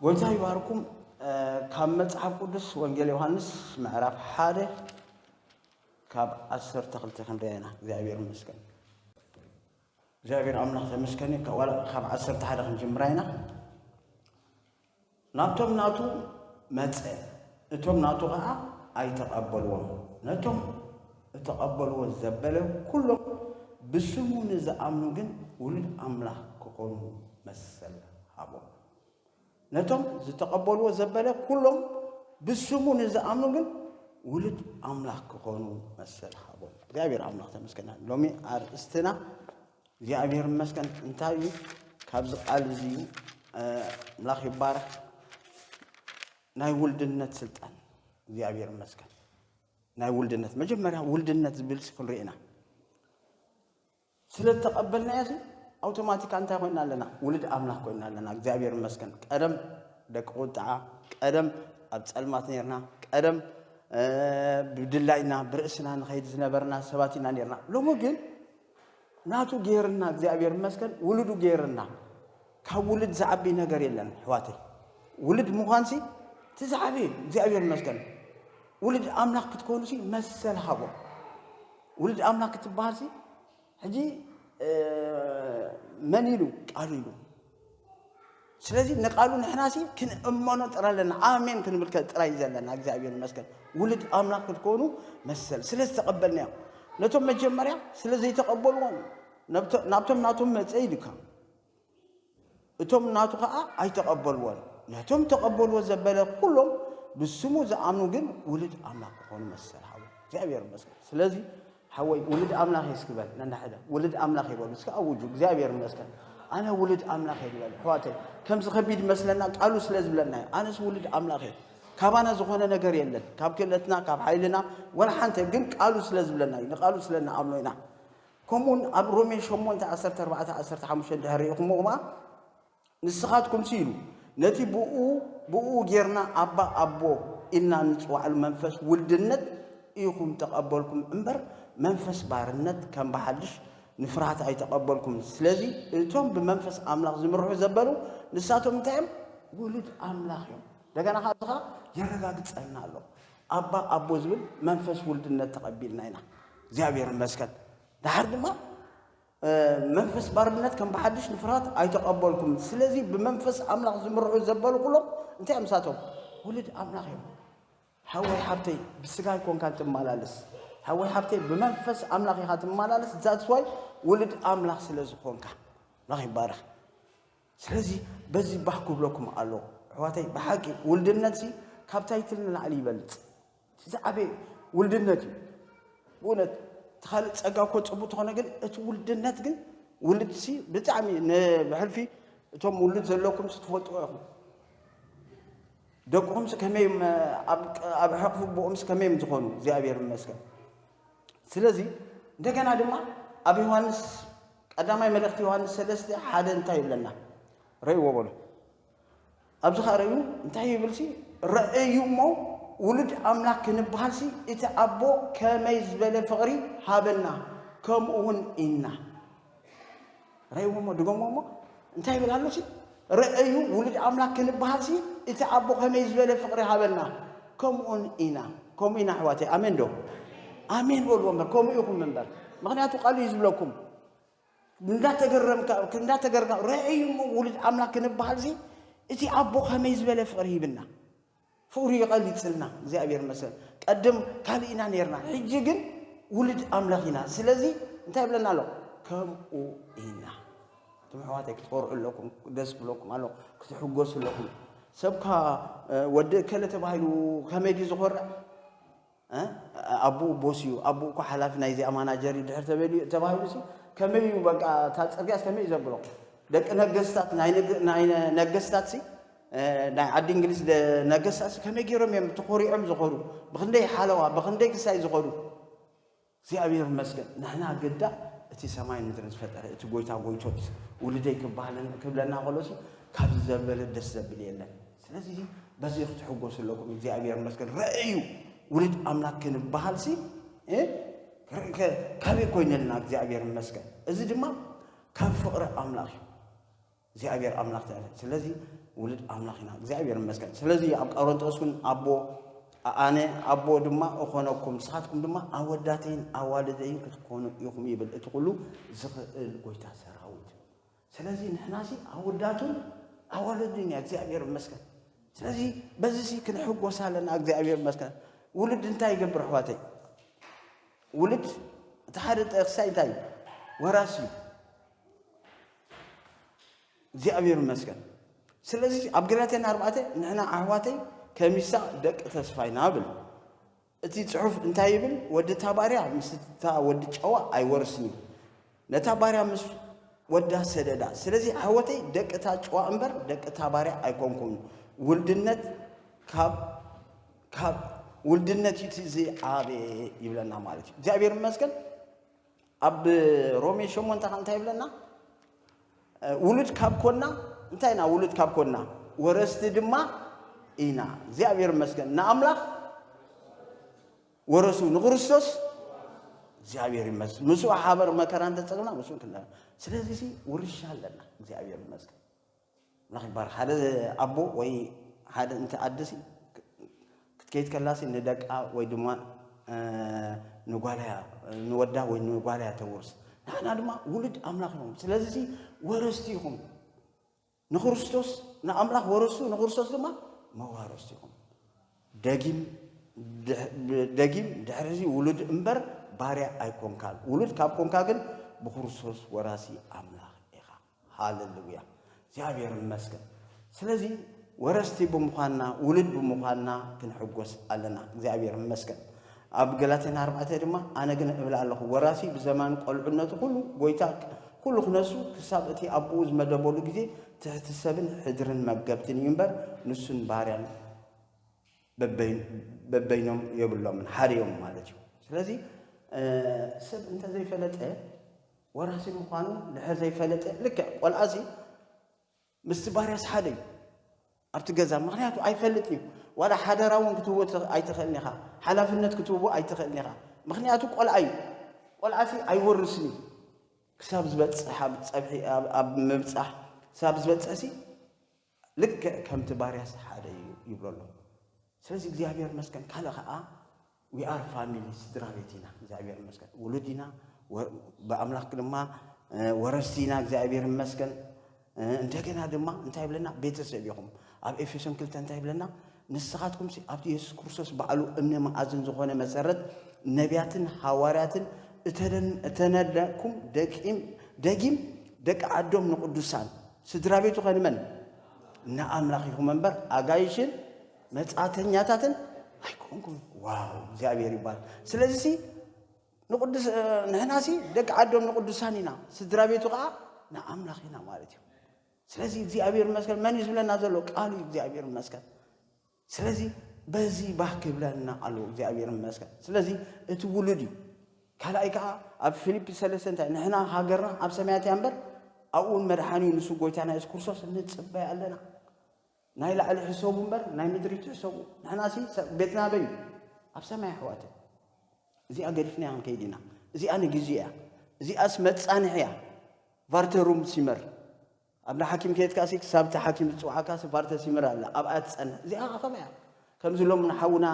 ጎይታ ይባርኩም። ካብ መጽሓፍ ቅዱስ ወንጌል ዮሃንስ ምዕራፍ ሓደ ካብ ዓሰርተ ክልተ ክንደያ ኢና። እግዚኣብሔር ይመስገን። እግዚኣብሔር ኣምላኽ ተመስገን እዩ። ካብ ዓሰርተ ሓደ ክንጅምራ ኢና። ናብቶም ናቱ መጸ፣ እቶም ናቱ ኸኣ ኣይተቐበልዎን። ነቶም እተቐበልዎ ዘበለ ኵሎም፣ ብስሙ ንዝኣምኑ ግን ውሉድ ኣምላኽ ኪዀኑ መሰል ሃቦም። ነቶም ዝተቐበልዎ ዘበለ ኵሎም፣ ብስሙ ንዝኣምኑ ግን ውሉድ ኣምላኽ ኪዀኑ መሰል ሃቦም። እግዚኣብሔር ኣምላኽ ተመስገን። ሎሚ ኣርእስትና እግዚኣብሔር ይመስገን እንታይ እዩ ካብዚ ቃል እዚ ምላኽ ይባረኽ ናይ ውልድነት ስልጣን እግዚኣብሔር ይመስገን ናይ ውልድነት መጀመርያ ውልድነት ዝብል ስክንሪኦ ኢና ስለ ዝተቐበልና እዚ ኣውቶማቲካ እንታይ ኮይና ኣለና ውልድ ኣምላኽ ኮይና ኣለና እግዚኣብሔር ይመስገን ቀደም ደቂ ቁጣዓ ቀደም ኣብ ፀልማት ነርና ቀደም ብድላይና ብርእስና ንኸይድ ዝነበርና ሰባት ኢና ነርና ሎሚ ግን ናቱ ጌርና እግዚኣብሔር ይመስገን ውሉዱ ጌርና ካብ ውልድ ዝዓቢ ነገር የለን ሕዋተይ ውልድ ምዃንሲ እቲ ዝዓቢ እግዚኣብሔር ይመስገን ውልድ ኣምላኽ ክትኮኑሲ መሰል ሃቦ ውልድ ኣምላኽ ክትበሃልሲ ሕጂ መን ኢሉ ቃሉ ኢሉ ስለዚ ንቃሉ ንሕናሲ ክንእመኖ ጥራ ኣለና ኣሜን ክንብል ጥራይ ዘለና እግዚኣብሔር ይመስገን ውሉድ ኣምላክ ክትኮኑ መሰል ስለ ዝተቐበልናዮ ነቶም መጀመርያ ስለ ዘይተቐበልዎም ናብቶም ናቶም መፀ ኢሉካ እቶም ናቱ ከዓ ኣይተቐበልዎን ነቶም ተቐበልዎ ዘበለ ኩሎም ብስሙ ዝኣምኑ ግን ውሉድ ኣምላክ ክኾኑ መሰል ሃቡ እግዚኣብሔር ይመስገን ስለዚ ሓወይ ውሉድ ኣምላኽ እየ እስኪ በል ነናሕደ ውሉድ ኣምላኽ እየ በሉ እስኪ ኣውጁ እግዚኣብሔር ይመስገን ኣነ ውሉድ ኣምላኽ እየ ዝበል ኣሕዋተይ ከምዚ ከቢድ መስለና ቃሉ ስለ ዝብለና እዩ ኣነስ ውሉድ ኣምላኽ እየ ካባና ዝኾነ ነገር የለን ካብ ክእለትና ካብ ሓይልና ወላ ሓንተ ግን ቃሉ ስለ ዝብለና እዩ ንቃሉ ስለ ንኣምኖ ኢና ከምኡውን ኣብ ሮሜ 8 14 15 ድሕሪ ኢኹምኹማ ንስኻትኩምሲ ኢሉ ነቲ ብእኡ ብእኡ ጌርና ኣባ ኣቦ ኢልና እንጽውዓሉ መንፈስ ውልድነት ኢኹም ተቐበልኩም እምበር መንፈስ ባርነት ከም ብሓድሽ ንፍርሃት ኣይተቐበልኩምን። ስለዚ እቶም ብመንፈስ ኣምላኽ ዝምርሑ ዘበሉ ንሳቶም እንታይ እዮም? ውሉድ ኣምላኽ እዮም። እንደገና ከኣ እዚ ከኣ የረጋግጸልና ኣሎ። ኣባ ኣቦ ዝብል መንፈስ ውልድነት ተቐቢልና ኢና። እግዚኣብሔር ይመስገን። ደሓር ድማ መንፈስ ባርነት ከም ብሓድሽ ንፍርሃት ኣይተቐበልኩምን። ስለዚ ብመንፈስ ኣምላኽ ዝምርሑ ዘበሉ ኩሎም እንታይ እዮም ንሳቶም? ውሉድ ኣምላኽ እዮም። ሓወይ ሓብተይ ብስጋ ኣይኮንካን ትመላለስ ሓወይ ሓብተይ ብመንፈስ ኣምላኽ ኢኻ ትመላለስ ዛትስዋይ ውሉድ ኣምላኽ ስለ ዝኾንካ ኣምላኽ ይባረኽ። ስለዚ በዚ ባህ ክብለኩም ኣለዎ ኣሕዋተይ ብሓቂ ውልድነትሲ ካብ ታይትል ንላዕሊ ይበልፅ እቲ ዝዓበየ ውልድነት እዩ ብእውነት እቲ ካልእ ፀጋ እኮ ፅቡቅ ተኾነ ግን እቲ ውልድነት ግን ውልድሲ ብጣዕሚ ንብሕልፊ እቶም ውልድ ዘለኩምሲ ትፈልጥዎ ኢኹም ደቅኹምሲ ከመይ ኣብ ሕቕፊ ቦኦምሲ ከመይ እዮም ዝኾኑ እግዚኣብሔር ይመስገን ስለዚ እንደገና ድማ ኣብ ዮሃንስ ቀዳማይ መልእኽቲ ዮሃንስ ሰለስተ ሓደ እንታይ ይብለና ረእዎ በሎ ኣብዚ ከዓ ረእዩ እንታይ ይብል ሲ ረእዩ እሞ ውሉድ ኣምላክ ክንበሃል ሲ እቲ ኣቦ ከመይ ዝበለ ፍቕሪ ሃበና ከምኡ እውን ኢና ረእይዎ እሞ ድገሞ እሞ እንታይ ይብል ኣሎ ሲ ረአዩ ውሉድ ኣምላክ ክንበሃል ሲ እቲ ኣቦ ከመይ ዝበለ ፍቕሪ ሃበና ከምኡን ኢና ከምኡ ኢና ኣሕዋተይ ኣሜን ዶ ኣሜን በልዎ እምበር ከምኡ ኢኹም እምበር ምክንያቱ ቃሉ እዩ ዝብለኩም እንዳተገረምካ እንዳተገርካ ረአዩ እሞ ውሉድ ኣምላክ ክንበሃል ሲ እቲ ኣቦ ከመይ ዝበለ ፍቕሪ ሂብና ፍቅሩ ይቀሊጽልና እግዚኣብሔር ይመስገን ቀድም ካልእ ኢና ነርና ሕጂ ግን ውሉድ ኣምላኽ ኢና ስለዚ እንታይ ይብለና ኣሎ ከምኡ ኢና እቶም ኣሕዋተይ ክትኮርዑ ኣለኩም ደስ ክብለኩም ኣሎ ክትሕጎሱ ኣለኩም ሰብካ ወዲ እከለ ተባሂሉ ከመይ ድዩ ዝኾርዕ ኣቡኡ ቦስ እዩ፣ ኣቡኡ እኳ ሓላፊ ናይ እዚኣ ማናጀር እዩ ድሕር ተበልዩ ተባሂሉሲ ከመይ እዩ በቃ እታ ጽርግያስ ከመይ እዩ ዘብሎ? ደቂ ነገስታት ናይ ነገስታትሲ ናይ ዓዲ እንግሊዝ ነገስታትሲ ከመይ ገይሮም እዮም ተኾሪዖም ዝኸዱ? ብኽንደይ ሓለዋ ብኽንደይ ክሳይ ዝኸዱ? እግዚኣብሔር ይመስገን ንሕና ግዳ እቲ ሰማይን ምድርን ዝፈጠረ እቲ ጎይታ ጎይቶት ውልደይ ክብለና ከሎ ካብዚ ዘበለ ደስ ዘብል የለን። ስለዚ በዚ ክትሕጎሱ ኣለኩም። እግዚኣብሔር ይመስገን ረእዩ ውልድ ኣምላክ ክንበሃል ሲ ካበይ ኮይነልና እግዚኣብሔር ይመስገን። እዚ ድማ ካብ ፍቅሪ ኣምላክ እዩ። እግዚኣብሔር ኣምላክ ትዕል ስለዚ ውልድ ኣምላክ ኢና እግዚኣብሔር ይመስገን ስለዚ ኣብ ቀረንጦስ እውን ኣቦ ኣነ ኣቦ ድማ እኾነኩም ንስኻትኩም ድማ ኣወዳተይን ኣዋልደይን ክትኮኑ ኢኹም ይብል እቲ ኩሉ ዝኽእል ጎይታ ሰራዊት ስለዚ ንሕናሲ ኣወዳቱን ኣዋልዱን እያ እግዚኣብሔር ይመስገን ስለዚ በዚ ሲ ክንሕጎስ ኣለና እግዚኣብሔር ይመስገን ውልድ እንታይ ይገብር ኣሕዋተይ ውልድ እቲ ሓደ ጠቅሳይ እንታይ እዩ ወራሲ እዩ እግዚኣብሔር ይመስገን። ስለዚ ኣብ ገላትያን ኣርባዕተ ንሕና ኣሕዋተይ ከሚሳ ደቂ ተስፋይ ናብል እቲ ጽሑፍ እንታይ ይብል? ወዲ እታ ባርያ ምስ እታ ወዲ ጨዋ ኣይወርስን እዩ። ነታ ባርያ ምስ ወዳ ሰደዳ። ስለዚ ኣሕወተይ ደቂ እታ ጨዋ እምበር ደቂ እታ ባርያ ኣይኮንኩም። ውልድነት ካብ ካብ ውልድነት እዩ እቲ ዝዓበየ ይብለና ማለት እዩ። እግዚኣብሔር ይመስገን። ኣብ ሮሜ ሸሞንተ ከ እንታይ ይብለና? ውሉድ ካብ ኮና እንታይ ኢና? ውሉድ ካብ ኮና ወረስቲ ድማ ኢና። እግዚኣብሔር ይመስገን ንኣምላኽ ወረሱ ንክርስቶስ እግዚኣብሔር ይመስገን ምስኡ ሓበር መከራ እንተፀግና ምስኡ ክንዳ ስለዚህ ውርሻ ኣለና እግዚኣብሔር ይመስገን ምክባር ሓደ ኣቦ ወይ ሓደ እንቲ ኣደ ሲ ክትከይድ ከላ ሲ ንደቃ ወይ ድማ ንጓላያ ንወዳ ወይ ንጓላያ ተውርስ ንሕና ድማ ውሉድ ኣምላኽ ኢኹም ስለዚ ሲ ወረስቲ ኢኹም ንክርስቶስ ንኣምላኽ ወረስቱ ንክርስቶስ ድማ መዋረስቲ ኢኹም ደጊም ደጊም ድሕሪ እዚ ውሉድ እምበር ባርያ ኣይኮንካን ውሉድ ካብ ኮንካ ግን ብክርስቶስ ወራሲ ኣምላኽ ኢኻ ሃለሉያ እግዚኣብሔር ይመስገን። ስለዚ ወረስቲ ብምዃንና ውሉድ ብምዃንና ክንሕጎስ ኣለና። እግዚኣብሔር ይመስገን። ኣብ ገላትያን ኣርባዕተ ድማ ኣነ ግን እብል ኣለኹ ወራሲ ብዘማን ቆልዑነቱ ኩሉ ጎይታ ኩሉ ክነሱ ክሳብ እቲ ኣቦኡ ዝመደበሉ ግዜ ትሕቲ ሰብን ሕድርን መገብትን እዩ እምበር ንሱን ባርያን በበይኖም የብሎምን ሓርዮም ማለት እዩ ስለዚ ሰብ እንተዘይፈለጠ ወራሲ ምዃኑ ድሕር ዘይፈለጠ ልክዕ ቆልዓ እዚ ምስቲ ባርያስ ሓደ እዩ ኣብቲ ገዛ ምክንያቱ ኣይፈልጥን እዩ ዋላ ሓደራ እውን ክትህቦ ኣይትኽእልን ኢኻ ሓላፍነት ክትህቦ ኣይትኽእልን ኢኻ ምክንያቱ ቆልዓ እዩ ቆልዓ ሲ ኣይወርስን እዩ ክሳብ ዝበፅሕ ኣብ ፀብሒ ኣብ ምብፃሕ ክሳብ ዝበፅሕ ሲ ልክዕ ከምቲ ባርያስ ሓደ እዩ ይብሎ ኣሎ ስለዚ እግዚኣብሔር መስገን ካልእ ከዓ ዊኣር ፋሚሊ ስድራ ቤት ኢና እግዚኣብሔር መስገን ውሉድ ኢና ብኣምላክ ድማ ወረስቲ ኢና እግዚኣብሔር መስገን እንደገና ድማ እንታይ ይብለና ቤተሰብ ኢኹም ኣብ ኤፌሶን ክልተ እንታይ ይብለና ንስኻትኩም ኣብቲ የሱስ ክርስቶስ ባዕሉ እምነ መኣዝን ዝኾነ መሰረት ነቢያትን ሃዋርያትን እተነለኩም ደቂም ደጊም ደቂ ዓዶም ንቅዱሳን ስድራቤቱ ከ ንመን? ንኣምላኽ ኢኹም እምበር ኣጋይሽን መጻተኛታትን ኣይኮንኩም። ዋው እግዚኣብሔር ይባል። ስለዚ ሲ ንቅዱስ ንሕና ሲ ደቂ ዓዶም ንቅዱሳን ኢና፣ ስድራ ቤቱ ከዓ ንኣምላኽ ኢና ማለት እዩ። ስለዚ እግዚኣብሔር ይመስገን መን እዩ ዝብለና ዘሎ? ቃሉ እዩ። እግዚኣብሔር ይመስገን። ስለዚ በዚ ባህ ክብለና ኣለዎ እግዚኣብሔር ይመስገን ስለዚ እቲ ውሉድ እዩ ካልኣይ ከዓ ኣብ ፊልጵ ሰለስተ እንታይ ንሕና ሃገርና ኣብ ሰማያት እያ እምበር ኣብኡን መድሓኒ ንሱ ጎይታና የሱስ ክርስቶስ ንፅበይ ኣለና ናይ ላዕሊ ሕሰቡ እምበር ናይ ምድሪ ትሕሰቡ ንሕና ሲ ቤትና በይ ኣብ ሰማይ ኣሕዋት እዚኣ ገዲፍና ክንከይድ ኢና እዚኣ ንግዜ እያ እዚኣስ መፃንሒ እያ ቫርተሩም ሲመር ኣብ ንሓኪም ከድካሲ ክሳብ እቲ ሓኪም ዝጽውዓካሲ ቫርተ ሲምር ኣላ ኣብኣ ትጸንሕ እዚኣ ከኣ ከመይ እያ ከምዚ ሎም ንሓውና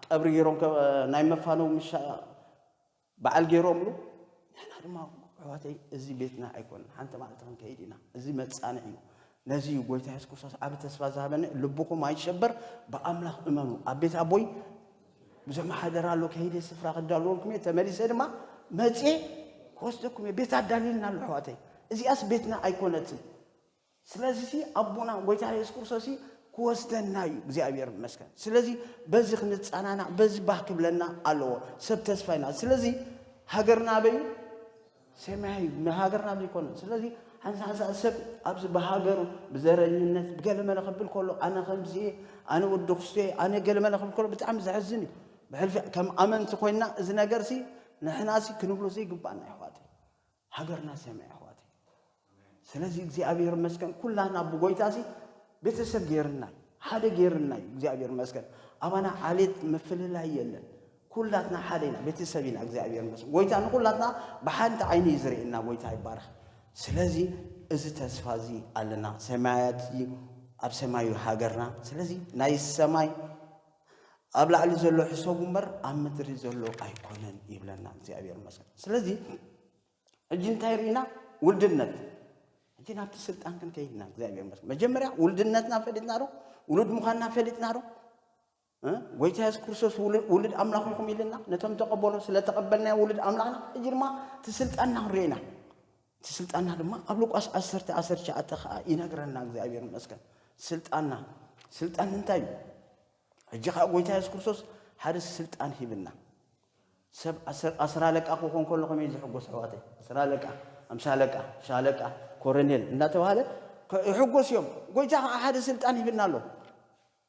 ቀብሪ ገይሮም ናይ መፋነው ምሻ በዓል ገይሮምሉ ንሕና ድማ ኣሕዋተይ እዚ ቤትና ኣይኮነን ሓንቲ መዓልቲ ክንከይድ ኢና እዚ መጻንዕ እዩ ነዚ እዩ ጎይታ የሱስ ክርስቶስ ዓብ ተስፋ ዝሃበኒ ልብኹም ኣይሸበር ብኣምላኽ እመኑ ኣብ ቤት ኣቦይ ዘመሓደራሉ ከይደ ስፍራ ክዳልወልኩም እየ ተመሊሰ ድማ መፅየ ክወስደኩም እየ ቤት ኣዳልዩልና ኣሎ ኣሕዋተይ እዚኣስ ቤትና ኣይኮነትን ስለዚ ሲ ኣቦና ጎይታ የሱስ ክርስቶስ ክወስደና እዩ እግዚኣብሔር ይመስገን ስለዚ በዚ ክንፀናናዕ በዚ ባህ ክብለና ኣለዎ ሰብ ተስፋ ኢና ስለዚ ሃገርና ኣበዩ ሰማይ ንሃገርና ዘይኮነ ስለዚ ሓንሳ ሓንሳ ሰብ ኣብዚ ብሃገሩ ብዘረኝነት ብገለመለ ክብል ከሎ ኣነ ከምዚ ኣነ ወዲ ክስቶ ኣነ ገለመለ ክብል ከሎ ብጣዕሚ ዘሕዝን እዩ ብሕልፊ ከም ኣመንቲ ኮይና እዚ ነገርሲ ንሕናሲ ክንብሎ ዘይግባኣና ይሕዋት ሃገርና ሰማይ ይሕዋት ስለዚ እግዚኣብሔር መስገን ኩላና ብጎይታ ሲ ቤተሰብ ጌርናይ ሓደ ጌርናይ እግዚኣብሔር መስገን ኣባና ዓሌት ምፍልላይ የለን ኩላትና ሓደ ኢና ቤተሰብ ኢና እግዚኣብሔር መስገን ጎይታ ንኩላትና ብሓንቲ ዓይኒ እዩ ዝርእየና ጎይታ ይባረኽ ስለዚ እዚ ተስፋ እዚ ኣለና ሰማያት እዩ ኣብ ሰማይ እዩ ሃገርና ስለዚ ናይ ሰማይ ኣብ ላዕሊ ዘሎ ሕሰቡ እምበር ኣብ ምድሪ ዘሎ ኣይኮነን ይብለና እግዚኣብሔር መስገን ስለዚ ሕጂ እንታይ ርኢና ውልድነት ሕጂ ናብቲ ስልጣን ግን ከይድና እግዚኣብሔር መስ መጀመርያ ውልድነትና ፈሊጥና ዶ ውሉድ ምዃንና ፈሊጥና ዶ ጎይታ የሱስ ክርስቶስ ውሉድ ኣምላኽ ይኹም ኢልና ነቶም ተቐበሎ ስለ ተቐበልና ውሉድ ኣምላኽና ሕጂ ድማ እቲ ስልጣንና ክንሪኢና እቲ ስልጣንና ድማ ኣብ ሉቃስ 1 19 ከዓ ይነግረና እግዚኣብሔር ይመስገን ስልጣንና ስልጣን እንታይ እዩ ሕጂ ከኣ ጎይታ የሱስ ክርስቶስ ሓደ ስልጣን ሂብና። ሰብ ኣስር ኣለቃ ክኾን ከሎ ከመይ ዝሕጎስ ኣሕዋተይ ኣስር ኣለቃ ኣምሳ ኣለቃ ሻለቃ ኮረኔል እንዳተባሃለ ይሕጎስ እዮም ጎይታ ከዓ ሓደ ስልጣን ይብልና ኣሎ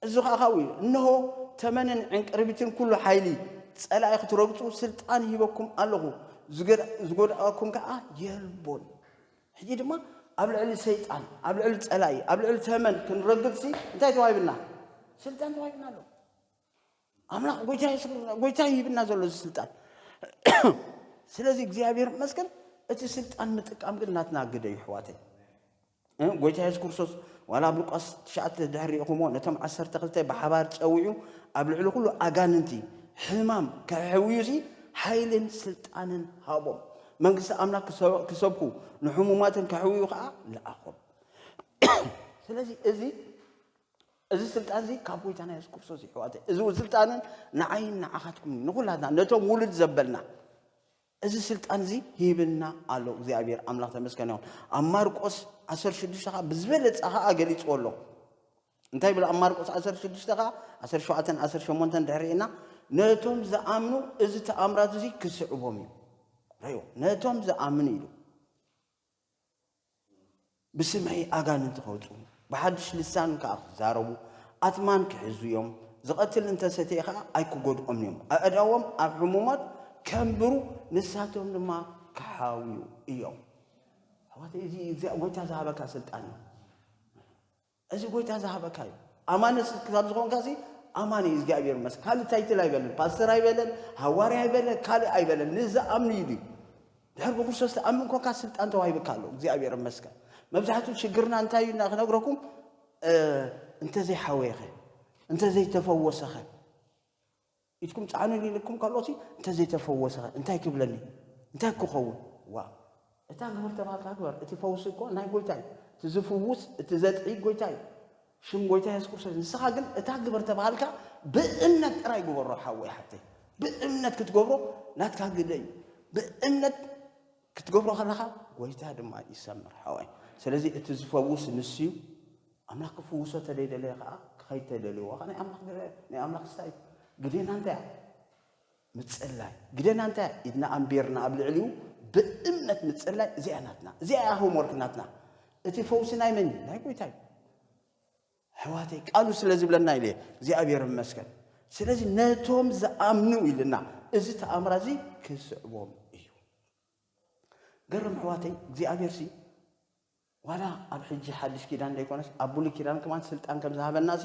እዚ ከዓ ካብኡ እዩ እነሆ ተመንን ዕንቅርቢትን ኩሉ ሓይሊ ፀላኢ ክትረግፁ ስልጣን ሂበኩም ኣለኹ ዝጎድኣኩም ከዓ የልቦን ሕጂ ድማ ኣብ ልዕሊ ሰይጣን፣ ኣብ ልዕሊ ጸላኢ፣ ኣብ ልዕሊ ተመን ክንረግጽሲ እንታይ ተዋሂብና? ስልጣን ተዋሂብና ኣሎ። ኣምላኽ ጎይታ የሱስ ክርስቶስ ጎይታ ይህብና ዘሎ እዚ ስልጣን። ስለዚ እግዚኣብሔር ይመስገን እቲ ስልጣን ምጥቃም ግን ናትና ግደ እዩ ኣሕዋተይ። እ፣ ጎይታ የሱስ ክርስቶስ ዋላ ኣብ ሉቃስ ትሽዓተ ድሕሪ ኢኹሞ ነቶም ዓሰርተ ክልተ ብሓባር ጸዊዑ ኣብ ልዕሊ ኩሉ ኣጋንንቲ ሕማም ከሕውዩሲ ሓይልን ስልጣንን ሃቦም። መንግስቲ ኣምላኽ ክሰብኩ ንሕሙማትን ከሕውዩ ከዓ ለኣኾም። ስለዚ እዚ እዚ ስልጣን እዚ ካብ ጎይታና የሱስ ክርስቶስ ይሕዋተ እዚ ስልጣንን ንዓይን ንዓኻትኩም ንኹላትና ነቶም ውሉድ ዘበልና እዚ ስልጣን እዚ ሂብና ኣሎ እግዚኣብሔር ኣምላኽ ተመስገን ይኹን ኣብ ማርቆስ 16 ከዓ ብዝበለፀ ከዓ ገሊፅዎ ኣሎ እንታይ ይብል ኣብ ማርቆስ ዓሰርተ ሽዱሽተ ከኣ ዓሰርተ ሸውዓተን ዓሰርተ ሸሞንተን ድሕሪ ርኤና ነቶም ዝኣምኑ እዚ ተኣምራት እዚ ክስዕቦም እዩ ረዮ ነቶም ዝኣምኑ ኢሉ ብስመይ ኣጋንንቲ ከውፅኡ ብሓድሽ ልሳን ከዓ ክዛረቡ ኣትማን ክሕዙ እዮም ዝቐትል እንተሰተየ ከዓ ኣይክጎድኦም እዮም ኣእዳዎም ኣብ ሕሙማት ከንብሩ ንሳቶም ድማ ክሓውዩ እዮም ኣሕዋት እዚ እግዚኣብ ጎይታ ዝሃበካ ስልጣን እዩ እዚ ጎይታ ዝሃበካ እዩ ኣማኒ ክሳብ ዝኮንካ እዚ ኣማኒ እግዚኣብሔር መስ ካልእ ታይትል ኣይበለን ፓስተር ኣይበለን ሃዋርያ ኣይበለን ካልእ ኣይበለን ንዝኣምኑ እዩ ድዩ ድሕር ብክርስቶስ ተኣምን ኮንካ ስልጣን ተዋሂብካ ኣሎ እግዚኣብሔር መስከን መብዛሕትኡ ሽግርና እንታይ እዩ እና ክነግረኩም እንተዘይሓወየኸ እንተዘይተፈወሰኸ ኢድኩም ጸዓኑኒ ኢልኩም ከሎሲ እንተዘይተፈወሰኸ እንታይ ትብለኒ እንታይ ክኸውን ዋእ። እታ ግበር ተባህልካ ግበር እቲ ፈውሲ እኮ ናይ ጎይታ እዩ እቲ ዝፍውስ እቲ ዘጥዕይ ጎይታ እዩ ሽም ጎይታ የሱስ ክርስቶስ ንስኻ ግን እታ ግበር ተባህልካ ብእምነት ጥራይ ግበሮ ሓወይ ሓፍተይ ብእምነት ክትገብሮ ናትካ ግደ እዩ ብእምነት ክትገብሮ ከለኻ ጎይታ ድማ ይሰምር ሓወይ ስለዚ እቲ ዝፈውስ ንሱ እዩ ኣምላኽ ክፍውሶ ተደይደለየ ከኣ ክኸይድ ተደልዎ ከኣ ናይ ኣምላኽ ግደ ናይ ኣምላኽ ስታ እዩ ግደና እንታይ እያ ምጽላይ ግደና እንታይ እያ ኢድና ኣንቢርና ኣብ ልዕሊኡ ብእምነት ምጽላይ እዚኣ ናትና እዚኣ እያ ሆምወርክ ናትና እቲ ፈውሲ ናይ መን እዩ ናይ ጎይታ እዩ ኣሕዋተይ ቃሉ ስለ ዝብለና ኢለ እግዚኣብሔር መስገን ስለዚ ነቶም ዝኣምኑ ኢልና እዚ ተኣምራ እዚ ክስዕቦም እዩ ገርም ኣሕዋተይ እግዚኣብሔር ሲ ዋላ ኣብ ሕጂ ሓድሽ ኪዳን ዘይኮነስ ኣብ ብሉይ ኪዳን ከማን ስልጣን ከም ዝሃበናሲ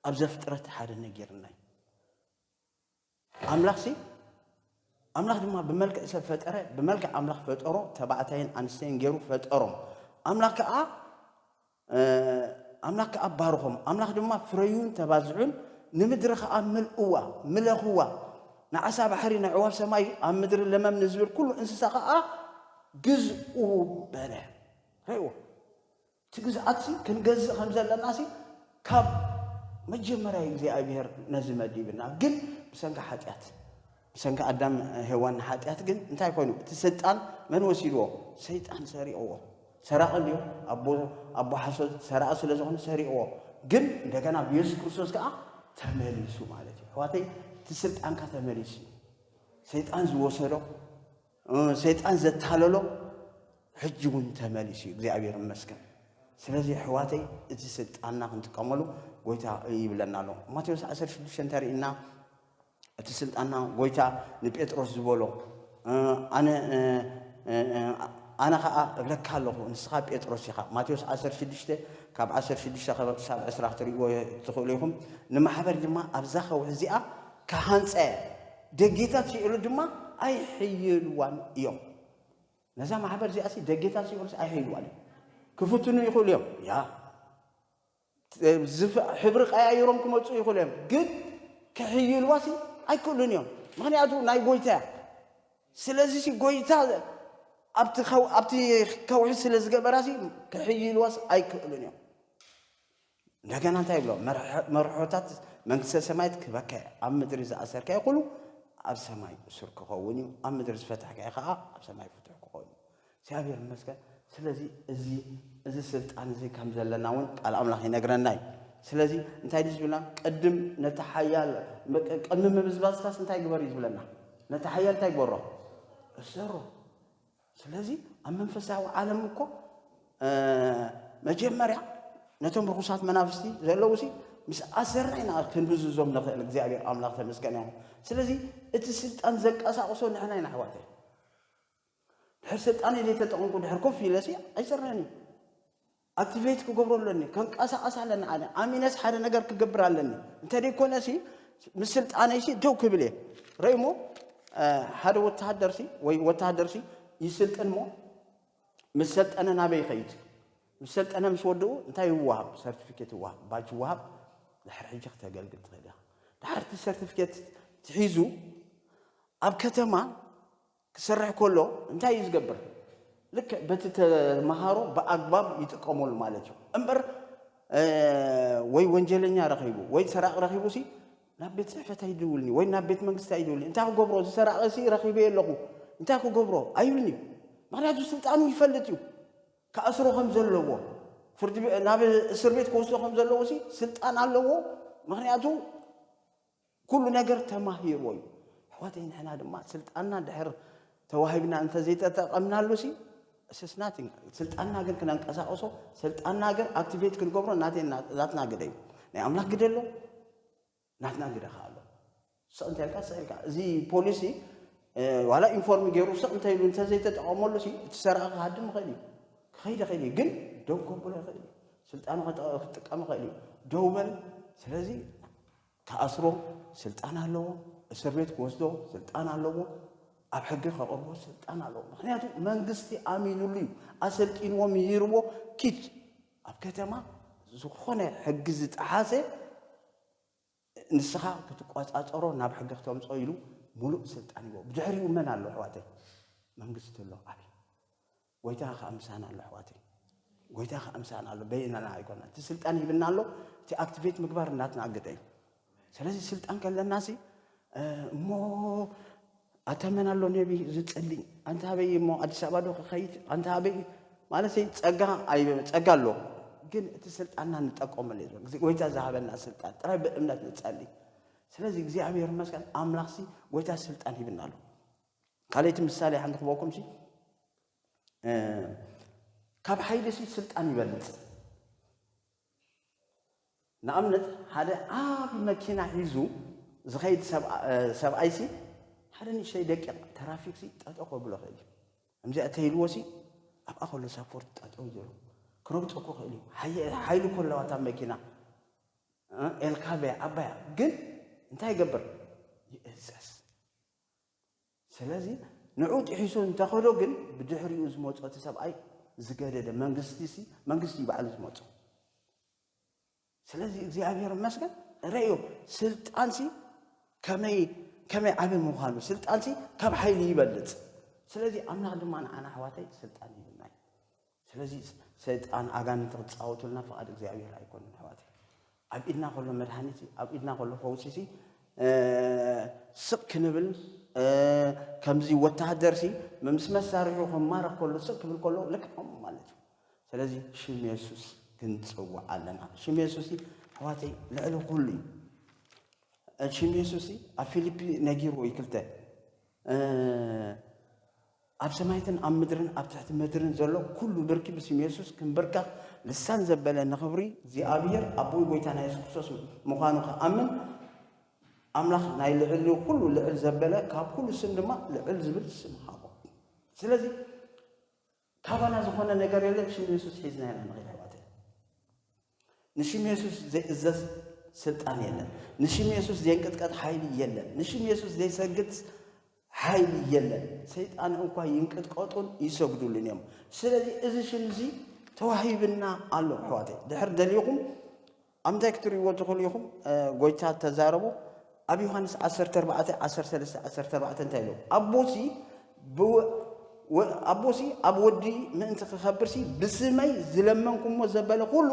ኣብ ዘፍጥረት ሓደ ነጊርና እዩ ኣምላኽሲ ኣምላኽ ድማ ብመልክዕ ሰብ ፈጠረ ብመልክዕ ኣምላኽ ፈጠሮ ተባዕታይን ኣንስተይን ገይሩ ፈጠሮም ኣምላኽ ከዓ ኣምላኽ ከዓ ባርኾም ኣምላኽ ድማ ፍረዩን ተባዝሑን ንምድሪ ከዓ ምልእዋ ምለኽዋ ንዓሳ ባሕሪ ንዕዋፍ ሰማይ ኣብ ምድሪ ለመም ንዝብል ኩሉ እንስሳ ከዓ ግዝኡ በለ። ርእይዎ፣ እቲ ግዝኣትሲ ክንገዝእ ከም ዘለናሲ ካብ መጀመርያ እዩ እግዚኣብሄር ነዚ መዲብና። ግን ብሰንኪ ሓጢኣት፣ ብሰንኪ ኣዳም ሄዋን ሓጢኣት ግን እንታይ ኮይኑ? እቲ ስልጣን መን ወሲድዎ? ሰይጣን ሰሪቕዎ። ሰራቒ እንድዩ፣ ኣቦ ኣቦ ሓሶት ሰራቒ ስለ ዝኾነ ሰሪቕዎ። ግን እንደገና ብየሱስ ክርስቶስ ከኣ ተመሊሱ ማለት እዩ። ኣሕዋተይ እቲ ስልጣንካ ተመሊሱ እዩ። ሰይጣን ዝወሰዶ ሰይጣን ዘታለሎ ሕጂ እውን ተመሊሱ እዩ እግዚኣብሔር ይመስገን ስለዚ ኣሕዋተይ እቲ ስልጣንና ክንጥቀመሉ ጎይታ ይብለና ኣሎ ማቴዎስ 16 እንተርእና እቲ ስልጣንና ጎይታ ንጴጥሮስ ዝበሎ ኣነ ኣነ ከዓ እብለካ ኣለኹ ንስኻ ጴጥሮስ ኢኻ ማቴዎስ 16 ካብ 16 ክሳብ 20 ክትሪእዎ ትኽእሉ ኢኹም ንማሕበር ድማ ኣብዛ ከውሒ እዚኣ ክሃንፀ ደጌታት ሲኦል ድማ ኣይሕይልዋን እዮም። ነዛ ማሕበር እዚኣሲ ደጌታት ሲኦልስ ኣይሕይልዋን እዮም። ክፍትኑ ይኽእሉ እዮም ያ ሕብሪ ቀያይሮም ክመፁ ይኽእሉ እዮም ግን ክሕይልዋሲ ኣይክእሉን እዮም ምክንያቱ ናይ ጎይታ እያ ስለዚ ሲ ጎይታ ኣብቲ ከውሒ ስለ ዝገበራሲ ክሕይልዋስ ኣይክእሉን እዮም እንደገና እንታይ ይብሎ መርሖታት መንግስተ ሰማያት ክበከ ኣብ ምድሪ ዝኣሰርካዮ ኩሉ ኣብ ሰማይ እሱር ክኸውን እዩ ኣብ ምድሪ ዝፈታሕካዮ ከዓ ኣብ ሰማይ ፍትሕ ክኸውን እዩ እግዚኣብሔር ይመስገን ስለዚ እዚ እዚ ስልጣን እዚ ከም ዘለና እውን ቃል ኣምላኽ ይነግረና እዩ ስለዚ እንታይ ድዩ ዝብልና ቅድም ነቲ ሓያል ቅድሚ ምብዝባዝካስ እንታይ ግበር እዩ ዝብለና ነቲ ሓያል እንታይ ግበሮ እሰሮ ስለዚ ኣብ መንፈሳዊ ዓለም እኮ መጀመርያ ነቶም ርኹሳት መናፍስቲ ዘለዉ ሲ ምስ ኣሰርና ኢና ክንብዝዞም ንኽእል እግዚኣብሔር ኣምላኽ ተመስገን ይኹን ስለዚ እቲ ስልጣን ዘንቀሳቕሶ ንሕና ኢና ኣሕዋተ ድሕር ስልጣን ዘይተጠቐምኩ ድሕር ኮፍ ኢለሲ ኣይሰርሕን እዩ ኣክቲቬት ክገብሮ ኣለኒ ከንቀሳቐስ ኣለኒ ኣነ ኣሚነስ ሓደ ነገር ክገብር ኣለኒ እንተደይኮነሲ ምስ ስልጣነይሲ ደው ክብል እየ ረእሞ ሓደ ወተሃደርሲ ወይ ወተሃደርሲ ይስልጥን ሞ ምስ ሰልጠነ ናበይ ይኸይድ ምስ ሰልጠነ ምስ ወድኡ እንታይ ይወሃብ ሰርቲፊኬት ይወሃብ ባጅ ይወሃብ ድሕር ሕጂ ክተገልግል ትኽእል ኢኻ ድሓርቲ ሰርቲፊኬት ትሒዙ ኣብ ከተማ ክሰርሕ ከሎ እንታይ እዩ ዝገብር? ልክዕ በቲ ተመሃሮ ብኣግባብ ይጥቀመሉ ማለት እዩ እምበር ወይ ወንጀለኛ ረኺቡ ወይ ሰራቂ ረኺቡ ሲ ናብ ቤት ፅሕፈት ኣይድውልኒ ወይ ናብ ቤት መንግስቲ ኣይድውልኒ እንታይ ክገብሮ እዚ ሰራቂ ሲ ረኺበ ኣለኹ እንታይ ክገብሮ ኣይብልኒ እዩ ምክንያቱ ስልጣኑ ይፈልጥ እዩ ክኣስሮ ከም ዘለዎ ፍርዲ ናብ እስር ቤት ክወስዶ ከም ዘለዎ ሲ ስልጣን ኣለዎ ምክንያቱ ኩሉ ነገር ተማሂርዎ እዩ ኣሕዋተይ ንሕና ድማ ስልጣንና ድሕር ተዋሂብና እንተዘይተጠቐምናሉ ሲ ስስ ናቲንግ ስልጣንና ግን ክነንቀሳቕሶ ስልጣንና ግን ኣክቲቬት ክንገብሮ ናትና ግደ እዩ ናይ ኣምላኽ ግደ ኣሎ ናትና ግደ ከዓ ኣሎ ስቕ እንተልካ ስቕ ኢልካ እዚ ፖሊሲ ዋላ ኢንፎርም ገይሩ ስቕ እንተ ኢሉ እንተዘይተጠቐመሉ ሲ እቲ ሰረቐ ክሃድም ይኽእል እዩ ክኸይድ ይኽእል እዩ ግን ደው ከብሎ ይኽእል እዩ ስልጣኑ ክጥቀም ይኽእል እዩ ደው በል ስለዚ ክኣስሮ ስልጣን ኣለዎ፣ እስር ቤት ክወስዶ ስልጣን ኣለዎ፣ ኣብ ሕጊ ከቕርቦ ስልጣን ኣለዎ። ምክንያቱ መንግስቲ ኣሚኑሉ እዩ፣ ኣሰልጢንዎ፣ ምሂርዎ፣ ኪድ ኣብ ከተማ ዝኾነ ሕጊ ዝጠሓሰ ንስኻ ክትቆፃፀሮ ናብ ሕጊ ክተምፅኦ ኢሉ ሙሉእ ስልጣን ይዎ። ብድሕሪኡ መን ኣሎ ኣሕዋተይ? መንግስቲ ኣሎ ዓብይ ጎይታ ከኣ ምሳና ኣሎ ኣሕዋተይ ጎይታ ከኣ ምሳና ኣሎ በይናና ኣይኮና እቲ ስልጣን ሂብና ኣሎ እቲ ኣክቲቬት ምግባር እናትና ኣግደ እዩ ስለዚ ስልጣን ከለና ሲ እሞ ኣተመን ኣሎ ነቢ ዝጸሊ ኣንታ ኣበይ እሞ ኣዲስ ኣበባ ዶ ክኸይድ ኣንታ ኣበይ ማለት ጸጋ ጸጋ ኣሎ ግን እቲ ስልጣንና ንጠቀመሉ እዩ ጎይታ ዝሃበና ስልጣን ጥራይ ብእምነት ንጸሊ ስለዚ እግዚኣብሔር ይመስገን ኣምላኽሲ ጎይታ ስልጣን ሂብና ኣሎ ካልይቲ ምሳሌ ሓንቲ ክበኩምሲ ካብ ሓይልሲ ስልጣን ይበልፅ ንኣብነት ሓደ ዓብ መኪና ሒዙ ዝኸይድ ሰብኣይሲ ሓደ ንእሽተይ ደቂቕ ትራፊክሲ ጠጦ ከብሎ ክእል እዩ ከምዚኣ ተይልዎሲ ኣብኣ ከሎ ሳፖርት ጠጦ ዘሉ ክረግፆ እኮ ክእል እዩ ሓይሉ ከለዋታ መኪና ኤልካበያ ዓባያ ግን እንታይ ይገብር ይእዘዝ ስለዚ ንዑ ጢሒሱ እንተኸዶ ግን ብድሕሪኡ ዝመጾ እቲ ሰብኣይ ዝገደደ መንግስቲሲ መንግስቲ እዩ ባዕሉ ዝመጾ። ስለዚ እግዚኣብሔር ይመስገን ረእዮ ስልጣንሲ ከመይ ከመይ ዓብ ምዃኑ ስልጣንሲ ካብ ሓይሊ ይበልፅ ስለዚ ኣምላኽ ድማ ንዓና ኣሕዋተይ ስልጣን ይብና እዩ ስለዚ ሰይጣን ኣጋንንቲ ክጻወቱልና ፍቓድ እግዚኣብሔር ኣይኮኑን ኣሕዋተይ። ኣብ ኢድና ከሎ መድሃኒት ኣብ ኢድና ከሎ ፈውሲ ሲ ስቕ ክንብል ከምዚ ወተሃደር ሲ ምስ መሳርሒ ክማረኽ ከሎ ስቕ ክብል ከሎ ልክዖም ማለት እዩ። ስለዚ ሽም የሱስ ክንጽውዕ ኣለና። ሽም የሱስ ኣሕዋተይ ልዕሊ ኩሉ እዩ። ሽም የሱስ ኣብ ፊልፒ ነጊርዎ እዩ ክልተ ኣብ ሰማያትን ኣብ ምድርን ኣብ ትሕቲ ምድርን ዘሎ ኩሉ ብርኪ ብስም የሱስ ክንብርከኽ ልሳን ዘበለ ንኽብሪ እግዚኣብሔር ኣቦን ጎይታና የሱስ ክርስቶስ ምዃኑ ክኣምን ኣምላኽ ናይ ልዕሊ ኩሉ ልዕል ዘበለ ካብ ኩሉ ስም ድማ ልዕል ዝብል ስም ሃቦ ስለዚ ካባና ዝኾነ ነገር የለን ሽም የሱስ ሒዝና ኢና ንኸይድ ኣሕዋተይ ንሽም የሱስ ዘይእዘዝ ስልጣን የለን። ንሽም የሱስ ዘይንቅጥቀጥ ሓይሊ የለን። ንሽም የሱስ ዘይሰግድ ሓይሊ የለን። ሰይጣን እንኳ ይንቅጥቀጡን ይሰግዱሉን እዮም። ስለዚ እዚ ሽም እዚ ተዋሂብና ኣሎ ኣሕዋተይ። ድሕር ደሊኹም ኣብ እንታይ ክትርእይዎ ትኽእሉ ኢኹም? ጎይታ ተዛረቡ ኣብ ዮሃንስ ዓሰርተ ኣርባዕተ ዓሰርተ ሰለስተ ዓሰርተ ኣርባዕተ እንታይ ኢሉ ኣቦሲ ኣቦሲ ኣብ ወዲ ምእንቲ ክኸብርሲ ብስመይ ዝለመንኩምዎ ዘበለ ኩሉ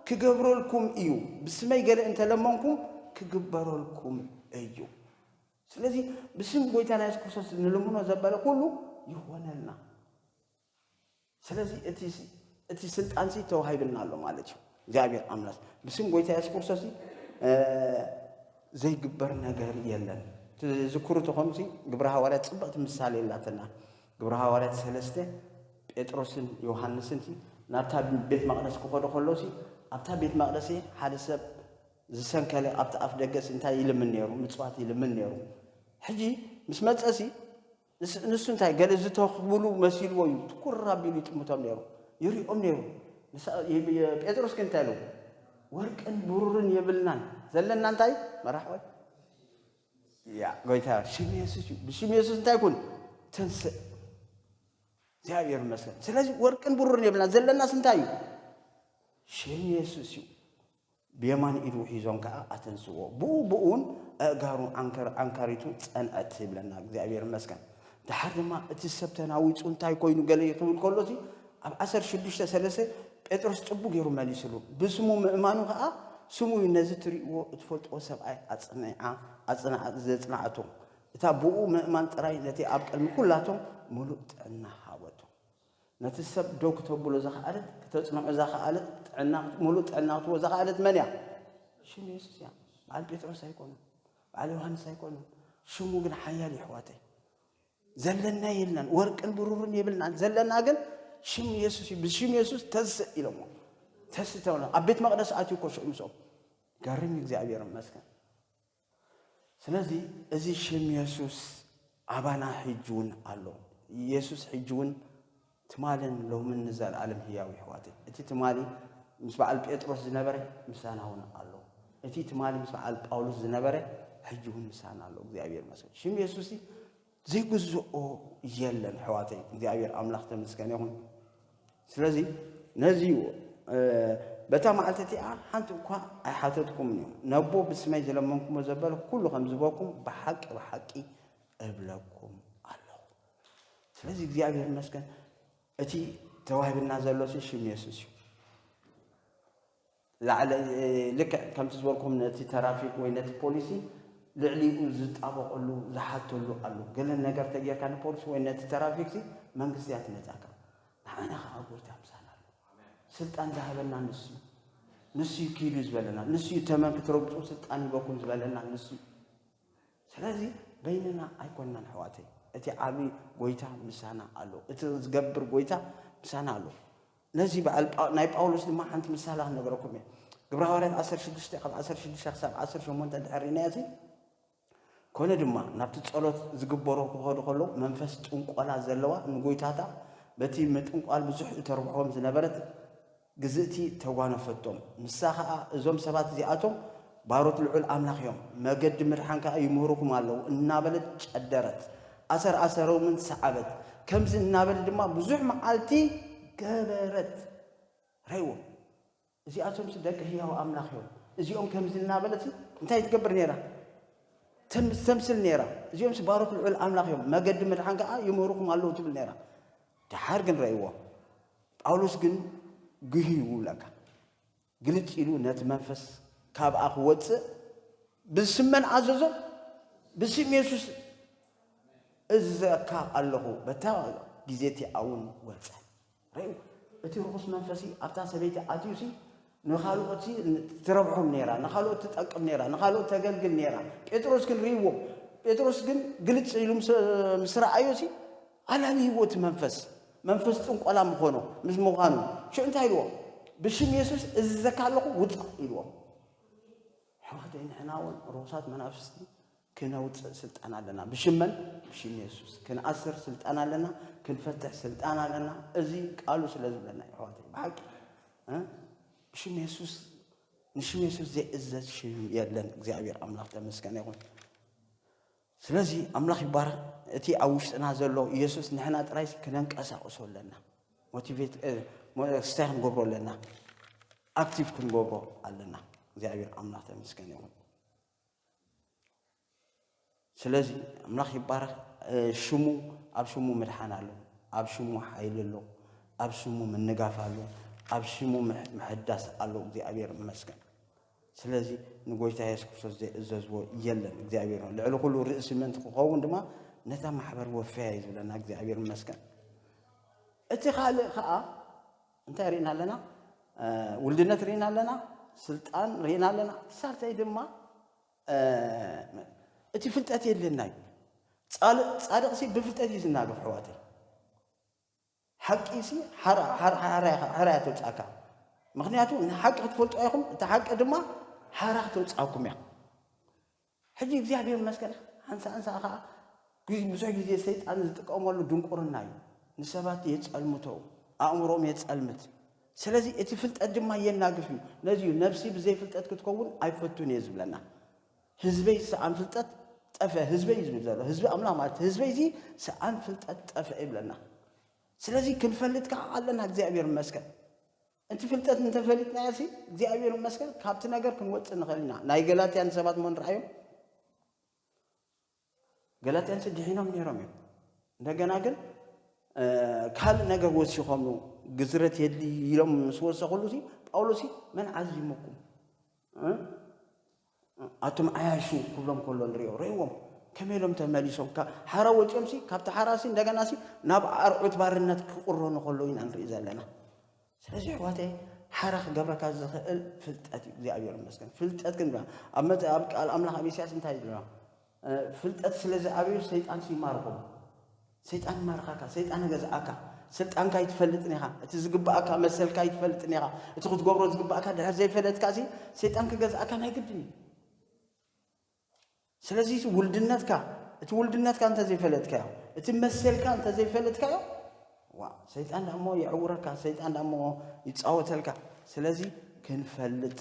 ክገብረልኩም እዩ ብስመይ ገለ እንተለመንኩም ክግበረልኩም እዩ ስለዚ ብስም ጎይታና የሱስ ክርስቶስ ንልምኖ ዘበለ ኩሉ ይኾነልና ስለዚ እቲ እቲ ስልጣን ሲ ተዋሂብና ኣሎ ማለት እዩ እግዚኣብሔር ኣምላክ ብስም ጎይታ የሱስ ክርስቶስ ዘይግበር ነገር የለን ትዝክሩ ተኾኑ ሲ ግብረ ሃዋርያት ፅብቕቲ ምሳሌ የላትና ግብረ ሃዋርያት ሰለስተ ጴጥሮስን ዮሃንስን ሲ ናብታ ቤት መቕደስ ክኸዱ ከሎ ሲ ኣብታ ቤት መቕደስ ሓደ ሰብ ዝሰንከለ ኣብቲ ኣፍ ደገ ሲ እንታይ ይልምን ነይሩ ምፅዋት ይልምን ነይሩ ሕጂ ምስ መፀ ሲ ንሱ እንታይ ገለ ዝተኽብሉ መሲልዎ እዩ ትኩር ኣቢሉ ይጥምቶም ነይሩ፣ ይሪኦም ነይሩ። ጴጥሮስ ግን እንታይ ኢሉ? ወርቅን ብሩርን የብልናን፣ ዘለና እንታይ እዩ? መራሕወ ያ ጎይታ ሽም የሱስ እዩ። ብሽም የሱስ እንታይ ኩን ተንስእ። እግዚኣብሔር ይመስገን። ስለዚ ወርቅን ብሩርን የብልና ዘለናስ እንታይ እዩ? ሽም የሱስ እዩ። ብየማን ኢዱ ሒዞም ከኣ ኣተንስእዎ። ብኡ ብኡን ኣእጋሩ ኣንካሪቱ ጸንዐት ይብለና። እግዚኣብሔር ይመስገን። ደሓር ድማ እቲ ሰብ ተናዊጹ እንታይ ኮይኑ ገለ ክብል ከሎሲ ኣብ ዓሰርተ ሽዱሽተ ሰለስተ ጴጥሮስ ጽቡ ገይሩ መሊስሉ። ብስሙ ምእማኑ ከኣ ስሙ እዩ ነዚ ትርእይዎ እትፈልጥዎ ሰብኣይ ኣጽኒዓ ዘጽንዓቶ። እታ ብኡ ምእማን ጥራይ ነቲ ኣብ ቅድሚ ኩላቶም ምሉእ ጥዕና ሃበቶ። ነቲ ሰብ ደው ክተብሎ ዘኸኣለት፣ ክተጽንዖ ዘኸኣለት፣ ጥዕና ምሉእ ጥዕና ክትህቦ ዘኸኣለት መን እያ? ሽም የሱስ እያ። በዓል ጴጥሮስ ኣይኮኑን፣ በዓል ዮሃንስ ኣይኮኑን። ሽሙ ግን ሓያል የሕዋተይ ዘለና የልናን ወርቅን ብሩርን የብልናን ዘለና ግን ሽም የሱስ እዩ ብሽም የሱስ ተስእ ኢሎሞ ተስእ ተብሎ ኣብ ቤት መቅደስ ኣትዩ እኮ ሽዑ ምስኦም ገርም እግዚኣብሔር ይመስገን ስለዚ እዚ ሽም የሱስ ኣባና ሕጂ እውን ኣሎ። የሱስ ሕጂ እውን ትማልን ሎምን ንዘለኣለም ህያው ይሕዋት እቲ ትማሊ ምስ በዓል ጴጥሮስ ዝነበረ ምሳና እውን ኣሎ እቲ ትማሊ ምስ በዓል ጳውሎስ ዝነበረ ሕጂ እውን ምሳና ኣሎ እግዚኣብሔር መስል ሽም የሱስ ዘይግዝኦ የለን ሕዋተይ እግዚኣብሔር ኣምላኽ ተመስገን ይኹን ስለዚ ነዚ በታ መዓልቲ እቲኣ ሓንቲ እኳ ኣይሓተትኩምን እዩ ነቦ ብስመይ ዝለመንኩሞ ዘበለ ኩሉ ከም ዝበኩም ብሓቂ ብሓቂ እብለኩም ኣለኹ ስለዚ እግዚኣብሔር መስገን እቲ ተዋሂብና ዘሎ ሽም የሱስ እዩ ላዕለ ልክዕ ከምቲ ዝበልኩም ነቲ ተራፊክ ወይ ነቲ ፖሊሲ ልዕሊኡ ዝጣበቀሉ ዝሓተሉ ኣሎ ገለ ነገር ተጌርካ ንፖሊሲ ወይ ነቲ ተራፊክሲ መንግስቲ እያ ትመጻካ ንዓና ከኣ ጎይታ ምሳና ኣሎ ስልጣን ዝሃበና ንሱ እዩ ንሱ እዩ ኪዱ ዝበለና ንሱ እዩ ተመን ክትረግጹ ስልጣን ይበኩም ዝበለና ንሱ እዩ ስለዚ በይንና ኣይኮናን ሕዋተይ እቲ ዓብዪ ጎይታ ምሳና ኣሎ እቲ ዝገብር ጎይታ ምሳና ኣሎ ነዚ በዓል ጳ ናይ ጳውሎስ ድማ ሓንቲ ምሳሌ ክነግረኩም እየ። ግብረ ሃዋርያት ዓሰርተ ሽዱሽተ ካብ ዓሰርተ ሽዱሽተ ክሳብ ዓሰርተ ሸሞንተ እንድሕር ርኢናዮ እዚ ኮነ ድማ ናብቲ ጸሎት ዝግበሮ ክኸዱ ከለዉ መንፈስ ጥንቆላ ዘለዋ ንጐይታታ በቲ ምጥንቋል ብዙሕ እተርብሖም ዝነበረት ግዝእቲ ተጓነፈቶም። ንሳ ኸኣ እዞም ሰባት እዚኣቶም ባሮት ልዑል ኣምላኽ እዮም፣ መገዲ ምድሓን ከኣ ይምህሩኹም ኣለዉ እናበለት ጨደረት። ኣሰር ኣሰሮምን ሰዓበት። ከምዚ እናበል ድማ ብዙሕ መዓልቲ ገበረት። ርእይዎ፣ እዚኣቶምሲ ደቂ ህያው ኣምላኽ እዮም፣ እዚኦም ከምዚ እናበለት እንታይ ትገብር ነይራ? ተምስል ነይራ። እዚኦምሲ ባሮት ልዑል ኣምላኽ እዮም፣ መገዲ ምድሓን ከኣ ይምህሩኹም ኣለዉ ትብል ነይራ። ደሓር ግን ርእይዎ፣ ጳውሎስ ግን ግህዩ ይብለካ። ግልጽ ኢሉ ነቲ መንፈስ ካብኣ ክወጽእ ብስም መን ኣዘዞ? ብስም የሱስ እዝዘካ ኣለኹ። በታ ግዜ እቲኣ እውን ወጸ። ርእዩ እቲ ርኹስ መንፈሲ ኣብታ ሰበይቲ ኣትዩሲ ንኻልኦት ትረብሖም ነይራ፣ ንኻልኦት ትጠቅም ነይራ፣ ንኻልኦት ተገልግል ነይራ። ጴጥሮስ ክንርእይዎ ጴጥሮስ ግን ግልጽ ኢሉ ምስ ረኣዮሲ ኣላልይዎ እቲ መንፈስ መንፈስ ጥንቆላ ምኾኑ ምስ ምዃኑ ሽዑ እንታይ ኢልዎ ብሽም የሱስ እዝዘካ ኣለኹ ውፃእ ኢልዎ ኣሕዋተይ ንሕና እውን ርኩሳት መናፍስቲ ክነውፅእ ስልጣን ኣለና ብሽም መን ብሽም የሱስ ክንኣስር ስልጣን ኣለና ክንፈትሕ ስልጣን ኣለና እዚ ቃሉ ስለ ዝብለና እዩ ኣሕዋተይ ብሓቂ ብሽም የሱስ ንሽም የሱስ ዘይእዘዝ ሽም የለን እግዚኣብሔር ኣምላኽ ተመስገነ ይኹን ስለዚ ኣምላኽ ይባረኽ እቲ ኣብ ውሽጥና ዘሎ ኢየሱስ ንሕና ጥራይሲ ክነንቀሳቕሶ ኣለና ሞቲቬት ስታይ ክንገብሮ ኣለና ኣክቲቭ ክንገብሮ ኣለና እግዚኣብሔር ኣምላኽ ተመስገን ይኹን ስለዚ ኣምላኽ ይባረኽ ሽሙ ኣብ ሽሙ ምድሓን ኣሎ ኣብ ሽሙ ሓይሊ ኣሎ ኣብ ሽሙ ምንጋፍ ኣሎ ኣብ ሽሙ ምሕዳስ ኣሎ እግዚኣብሔር ይመስገን ስለዚ ንጎይታ የሱስ ክርስቶስ ዘይእዘዝዎ የለን እግዚኣብሔር ነው ልዕሊ ኩሉ ርእሲ ምእንቲ ክኸውን ድማ ነታ ማሕበር ወፈያ እዩ ዝብለና እግዚኣብሔር ይመስገን እቲ ካልእ ከዓ እንታይ ርኢና ኣለና ውልድነት ርኢና ኣለና ስልጣን ርኢና ኣለና ሳልሳይ ድማ እቲ ፍልጠት የድልየና እዩ ፃድቕሲ ብፍልጠት እዩ ዝናገፍ ሕዋተይ ሓቂ ሲ ሓራ ተውጻካ ምክንያቱ ንሓቂ ክትፈልጥዋ ኢኩም እታ ሓቂ ድማ ሓራ ክተውጻኩም እያ ሕጂ እግዚኣብሔር መስገን ሓንሳእንሳ ከኣ ብዙሕ ግዜ ሰይጣን ዝጥቀመሉ ድንቁርና እዩ ንሰባት የጸልምቶ ኣእምሮም የጸልምት ስለዚ እቲ ፍልጠት ድማ የናግፍ እዩ ነዚ እዩ ነብሲ ብዘይፍልጠት ክትከውን ኣይፈቱን እየ ዝብለና ህዝበይ ሰኣን ፍልጠት ጠፍአ ህዝበይ እዩ ዝብል ዘሎ ህዝቢ ኣምላኽ ማለት ህዝበይ እዚ ሰኣን ፍልጠት ጠፍአ ይብለና ስለዚ ክንፈልጥ ከዓ ኣለና እግዚኣብሔር ይመስገን እቲ ፍልጠት እንተፈሊጥናዮ ሲ እግዚኣብሔር ይመስገን ካብቲ ነገር ክንወፅእ ንኽእል ኢና ናይ ገላትያ ንሰባት እሞ ንርኣዮም ገላትያንሲ ድሒኖም ነይሮም እዮም እንደገና ግን ካልእ ነገር ወሲኾም ግዝረት የድሊ ኢሎም ምስ ወሰኽሉ ሲ ጳውሎስ መን ዓዚሙኩም ኣቱም ዓያሹ ክብሎም ከሎ ንሪኦ ርእዎም ከመይ ኢሎም ተመሊሶም ሓራ ወፂኦም ሲ ካብቲ ሓራ ሲ እንደገና ሲ ናብ ኣርዑት ባርነት ክቕረኑ ከሎ ኢና ንርኢ ዘለና ስለዚ ኣሕዋተይ ሓራ ክገብረካ ዝኽእል ፍልጠት እዩ እግዚኣብሔር ይመስገን ፍልጠት ግን ኣብ መ ኣብ ቃል ኣምላኽ ኣብ ኢሳያስ እንታይ ይብላ ፍልጠት ስለ ዝዓብዩ ሰይጣን ይማርኹም ሰይጣን ይማርኻካ ሰይጣን ገዝኣካ ስልጣንካ ይትፈልጥን ኢኻ እቲ ዝግብኣካ መሰልካ ይትፈልጥን ኢኻ እቲ ክትገብሮ ዝግብኣካ ድሕር ዘይፈለጥካ ሲ ሰይጣን ክገዝኣካ ናይ ግድን እዩ ስለዚ እቲ ውልድነትካ እቲ ውልድነትካ እንተ ዘይፈለጥካዮ እቲ መሰልካ እንተ ዘይፈለጥካዮ ዋ ሰይጣን ዳሞ የዕውረካ ሰይጣን ዳሞ ይፃወተልካ ስለዚ ክንፈልጥ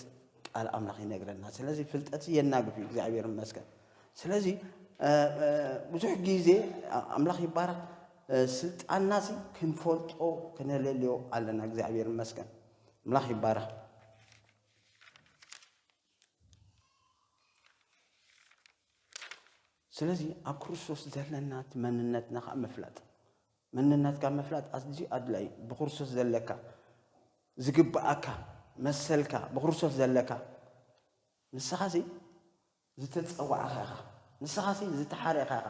ቃል ኣምላኽ ይነግረና ስለዚ ፍልጠት የናግፍ እዩ እግዚኣብሔር ይመስገን ስለዚ ብዙሕ ግዜ ኣምላኽ ይባረክ ስልጣንና ሲ ክንፈልጦ ክነለልዮ ኣለና እግዚኣብሔር ይመስገን ኣምላኽ ይባረክ ስለዚ ኣብ ክርስቶስ ዘለና እቲ መንነትና ከዓ ምፍላጥ መንነትካ ምፍላጥ ኣዝዩ ኣድላይ ብክርስቶስ ዘለካ ዝግብኣካ መሰልካ ብክርስቶስ ዘለካ ንስኻ ሲ ዝተፀዋዕኻ ኢኻ ንስኻ ሲ ዝተሓረኻ ኢኻ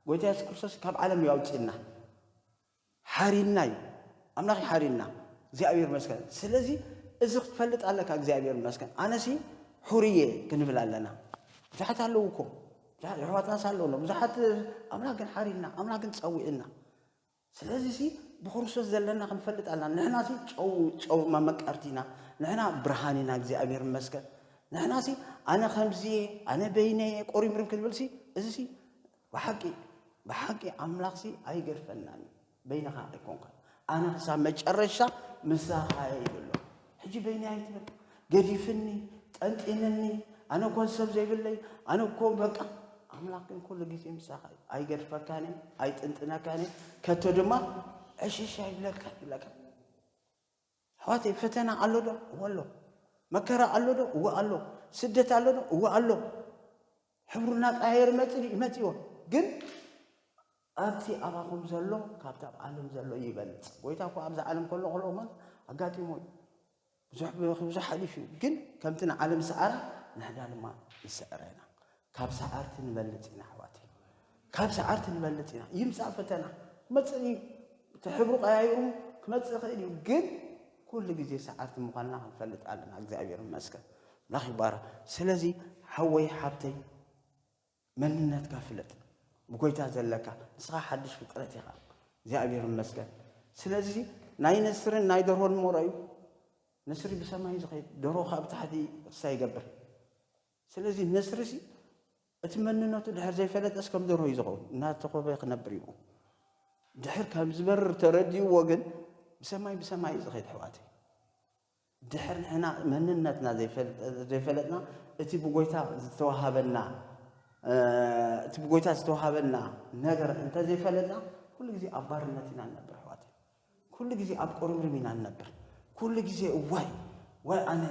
ጎይታ የሱስ ክርስቶስ ካብ ዓለም ይኣውፅና ሓሪንና እዩ ኣምላኽ እዩ ሓሪንና እግዚኣብሔር ይመስገን ስለዚ እዚ ክትፈልጥ ኣለካ እግዚኣብሔር ይመስገን ኣነሲ ሑርየ ክንብል ኣለና ብዙሓት ኣለዉ እኮ ብዙሓት ኣሕዋትናስ ኣለውና ብዙሓት ኣምላኽ ግን ሓሪንና ኣምላኽ ግን ፀዊዕና ስለዚ ሲ ብክርስቶስ ዘለና ክንፈልጥ ኣለና ንሕና ሲ ጨው ጨው መመቀርቲ ኢና ንሕና ብርሃን ኢና እግዚኣብሔር ይመስገን ንሕና ሲ ኣነ ከምዚ ኣነ በይነ ቆሪምርም ክንብል ሲ እዚ ሲ ብሓቂ ብሓቂ ኣምላኽሲ ኣይገድፈናን እዩ በይንኻ ኣይኮንካን ኣነ ክሳብ መጨረሻ ምሳኻ እየ ይብሎ ሕጂ በይኒ ኣይትብል ገዲፍኒ ጠንጢንኒ ኣነ እኮ ሰብ ዘይብለይ ኣነ እኮ በቃ ኣምላኽ ግን ኩሉ ግዜ ምሳኻ እዩ ኣይገድፈካን እዩ ኣይጥንጥነካን እዩ ከቶ ድማ ዕሽሽ ኣይብለካ ይብለካ ኣሕዋተይ ፈተና ኣሎ ዶ? እወ ኣሎ። መከራ ኣሎ ዶ? እወ ኣሎ። ስደት ኣሎ ዶ? እወ ኣሎ። ሕብሩ እናቀያየር ይመጽእ ድዩ? ይመጽእዎ። ግን ኣብቲ ኣባኹም ዘሎ ካብቲ ኣብ ዓለም ዘሎ ይበልጽ። ጎይታ እኳ ኣብዚ ዓለም ከሎ ከሎ እሞ ኣጋጢሞ እዩ። ብዙሕ ብብዙሕ ሓሊፉ እዩ። ግን ከምቲ ንዓለም ዝሰዓራ ንሕና ድማ ንስዕራ ኢና። ካብ ሰዓርቲ ንበልፅ ኢና ኣሕዋተይ ካብ ሰዓርቲ ንበልፅ ኢና ይምፃእ ፈተና ክመፅእ እዩ እቲ ሕብሩ ቀያይሩ ክመፅእ ይኽእል እዩ ግን ኩሉ ግዜ ሰዓርቲ ምዃንና ክንፈልጥ ኣለና እግዚኣብሔር ይመስገን ኣምላኽ ይባረክ ስለዚ ሓወይ ሓብተይ መንነትካ ፍለጥ ብጎይታ ዘለካ ንስኻ ሓድሽ ፍጥረት ኢኻ እግዚኣብሔር ይመስገን ስለዚ ናይ ነስርን ናይ ደርሆን ሞሮ እዩ ነስሪ ብሰማይ ዝኸይድ ደርሆ ካብ ታሕቲ እሳ ይገብር ስለዚ ነስሪሲ እቲ መንነቱ ድሕር ዘይፈለጠስ ከም ደርሆ እዩ ዝኸውን፣ እናተኾበ ክነብር እዩ። ድሕር ከም ዝበርር ተረዲእዎ ግን ብሰማይ ብሰማይ እዩ ዝኸይድ ኣሕዋተይ። ድሕር ንሕና መንነትና ዘይፈለጥና እቲ ብጎይታ ዝተዋሃበና እቲ ብጎይታ ዝተዋሃበና ነገር እንተዘይፈለጥና ኩሉ ግዜ ኣብ ባርነት ኢና ንነብር ኣሕዋተይ። ኩሉ ግዜ ኣብ ቁርምርም ኢና ንነብር ኩሉ ግዜ ዋይ ዋይ ኣነ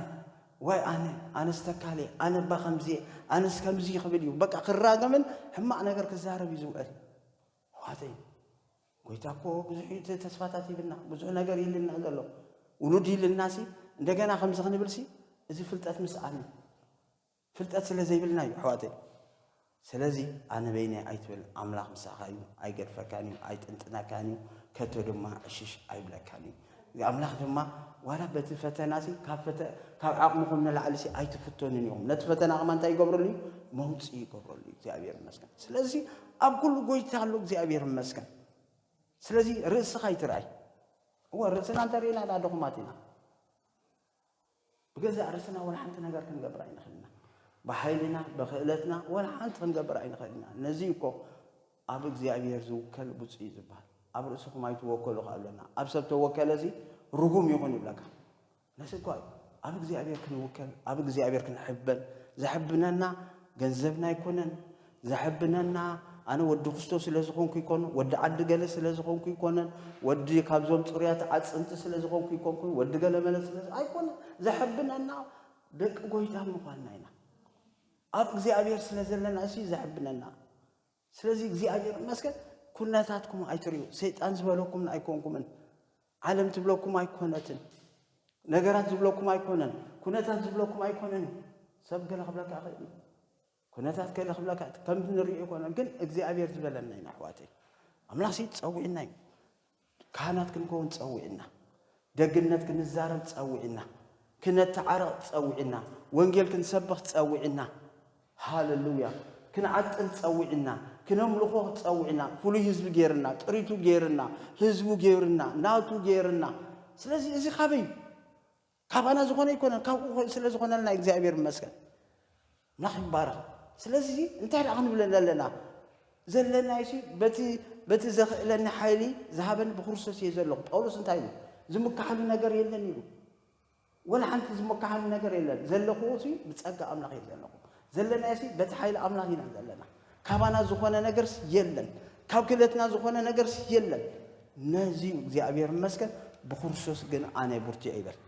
ዋይ ኣነ ኣነስ ተካልየ ኣነ እባ ከምዚየ ኣነስ ከምዚ ክብል እዩ በቃ ክራገምን ሕማቅ ነገር ክዛረብ እዩ ዝውዕል ኣሕዋተይ ጎይታ እኮ ብዙሕ ተስፋታት ይብልና ብዙሕ ነገር ይልና ዘሎ ውሉድ ይልና ሲ እንደገና ከምዚ ክንብል ሲ እዚ ፍልጠት ምስኣል እዩ ፍልጠት ስለ ዘይብልና እዩ ኣሕዋተይ ስለዚ ኣነ በይነይ ኣይትበል ኣምላኽ ምሳኻ እዩ ኣይገድፈካን እዩ ኣይጥንጥነካን እዩ ከቶ ድማ ዕሽሽ ኣይብለካን እዩ ኣምላኽ ድማ ዋላ በቲ ፈተና ሲ ካብ ዓቕምኹም ንላዕሊ ሲ ኣይትፍተኑን ኢኹም ነቲ ፈተና ከማ እንታይ ይገብረሉ እዩ መውፅ ይገብረሉ እዩ እግዚኣብሔር ይመስገን ስለዚ ኣብ ኩሉ ጎይታ ኣሎ እግዚኣብሔር ይመስገን ስለዚ ርእስኻ ይትርኣይ እወ ርእስና እንተርእና ዳ ድኹማት ኢና ብገዛእ ርእስና ወላ ሓንቲ ነገር ክንገብር ኣይንኽእል ኢና። ብሓይልና፣ ብክእለትና ወላ ሓንቲ ክንገብር ኣይንኽእል ኢና። ነዚ እዩ እኮ ኣብ እግዚኣብሄር ዝውከል ብፁዕ እዩ ዝበሃል። ኣብ ርእስኹም ኣይትወከሉ ከ ኣሎና። ኣብ ሰብ ተወከለሲ ርጉም ይኹን ይብለካ። ነዚ እኳ እዩ ኣብ እግዚኣብሄር ክንውከል፣ ኣብ እግዚኣብሄር ክንሕበን፣ ዘሕብነና ገንዘብና ኣይኮነን፣ ዘሐብነና ኣነ ወዲ ክስቶ ስለ ዝኾንኩ ይኮኑ ወዲ ዓዲ ገለ ስለ ዝኾንኩ ይኮነን ወዲ ካብዞም ጽሩያት ዓጽምቲ ስለ ዝኾንኩ ይኮንኩ ወዲ ገለ መለ ስለ ኣይኮነ ዘሐብነና ደቂ ጎይታ ምዃንና ኢና ኣብ እግዚኣብሔር ስለ ዘለና እሲ ዘሕብነና ስለዚ እግዚኣብሔር መስገን ኩነታትኩም ኣይትርዩ ሰይጣን ዝበለኩም ኣይኮንኩምን ዓለም ትብለኩም ኣይኮነትን ነገራት ዝብለኩም ኣይኮነን ኩነታት ዝብለኩም ኣይኮነን ሰብ ገለ ክብለካ ይኽእል እዩ ኩነታት ከለ ክብለካ እቲ ከምቲ ንሪኦ ኣይኮነን ግን እግዚኣብሔር ዝበለና ኢና ኣሕዋተይ ኣምላኽ ሲ ጸዊዕና እዩ ካህናት ክንከውን ጸዊዕና ደግነት ክንዛረብ ጸዊዕና ክነተዓረቕ ጸዊዕና ወንጌል ክንሰብኽ ጸዊዕና ሃለሉያ ክንዓጥን ጸዊዕና ክነምልኾ ጸዊዕና ፍሉይ ህዝቢ ገይርና ጥሪቱ ገይርና ህዝቡ ገይርና ናቱ ገይርና ስለዚ እዚ ካበይ ካባና ዝኾነ ኣይኮነን ካብኡ ስለ ዝኾነልና እግዚኣብሔር ይመስገን ኣምላኽ ይባረኽ ስለዚ እንታይ ደኣ ክንብለለ ኣለና ዘለና ሲ በቲ በቲ ዘኽእለኒ ሓይሊ ዝሃበኒ ብክርስቶስ እየ ዘለኹ ጳውሎስ እንታይ እዩ ዝምካሓሉ ነገር የለን ኢሉ ወላ ሓንቲ ዝመካሓሉ ነገር የለን ዘለኹ ሲ ብፀጋ ኣምላኽ እየ ዘለኹ ዘለናዮሲ በቲ ሓይሊ ኣምላኽ ኢና ዘለና። ካባና ዝኾነ ነገርስ የለን፣ ካብ ክእለትና ዝኾነ ነገርስ የለን። ነዚዩ እግዚኣብሔር ይመስገን ብክርስቶስ ግን ኣነ ብርቱዕ ይበል።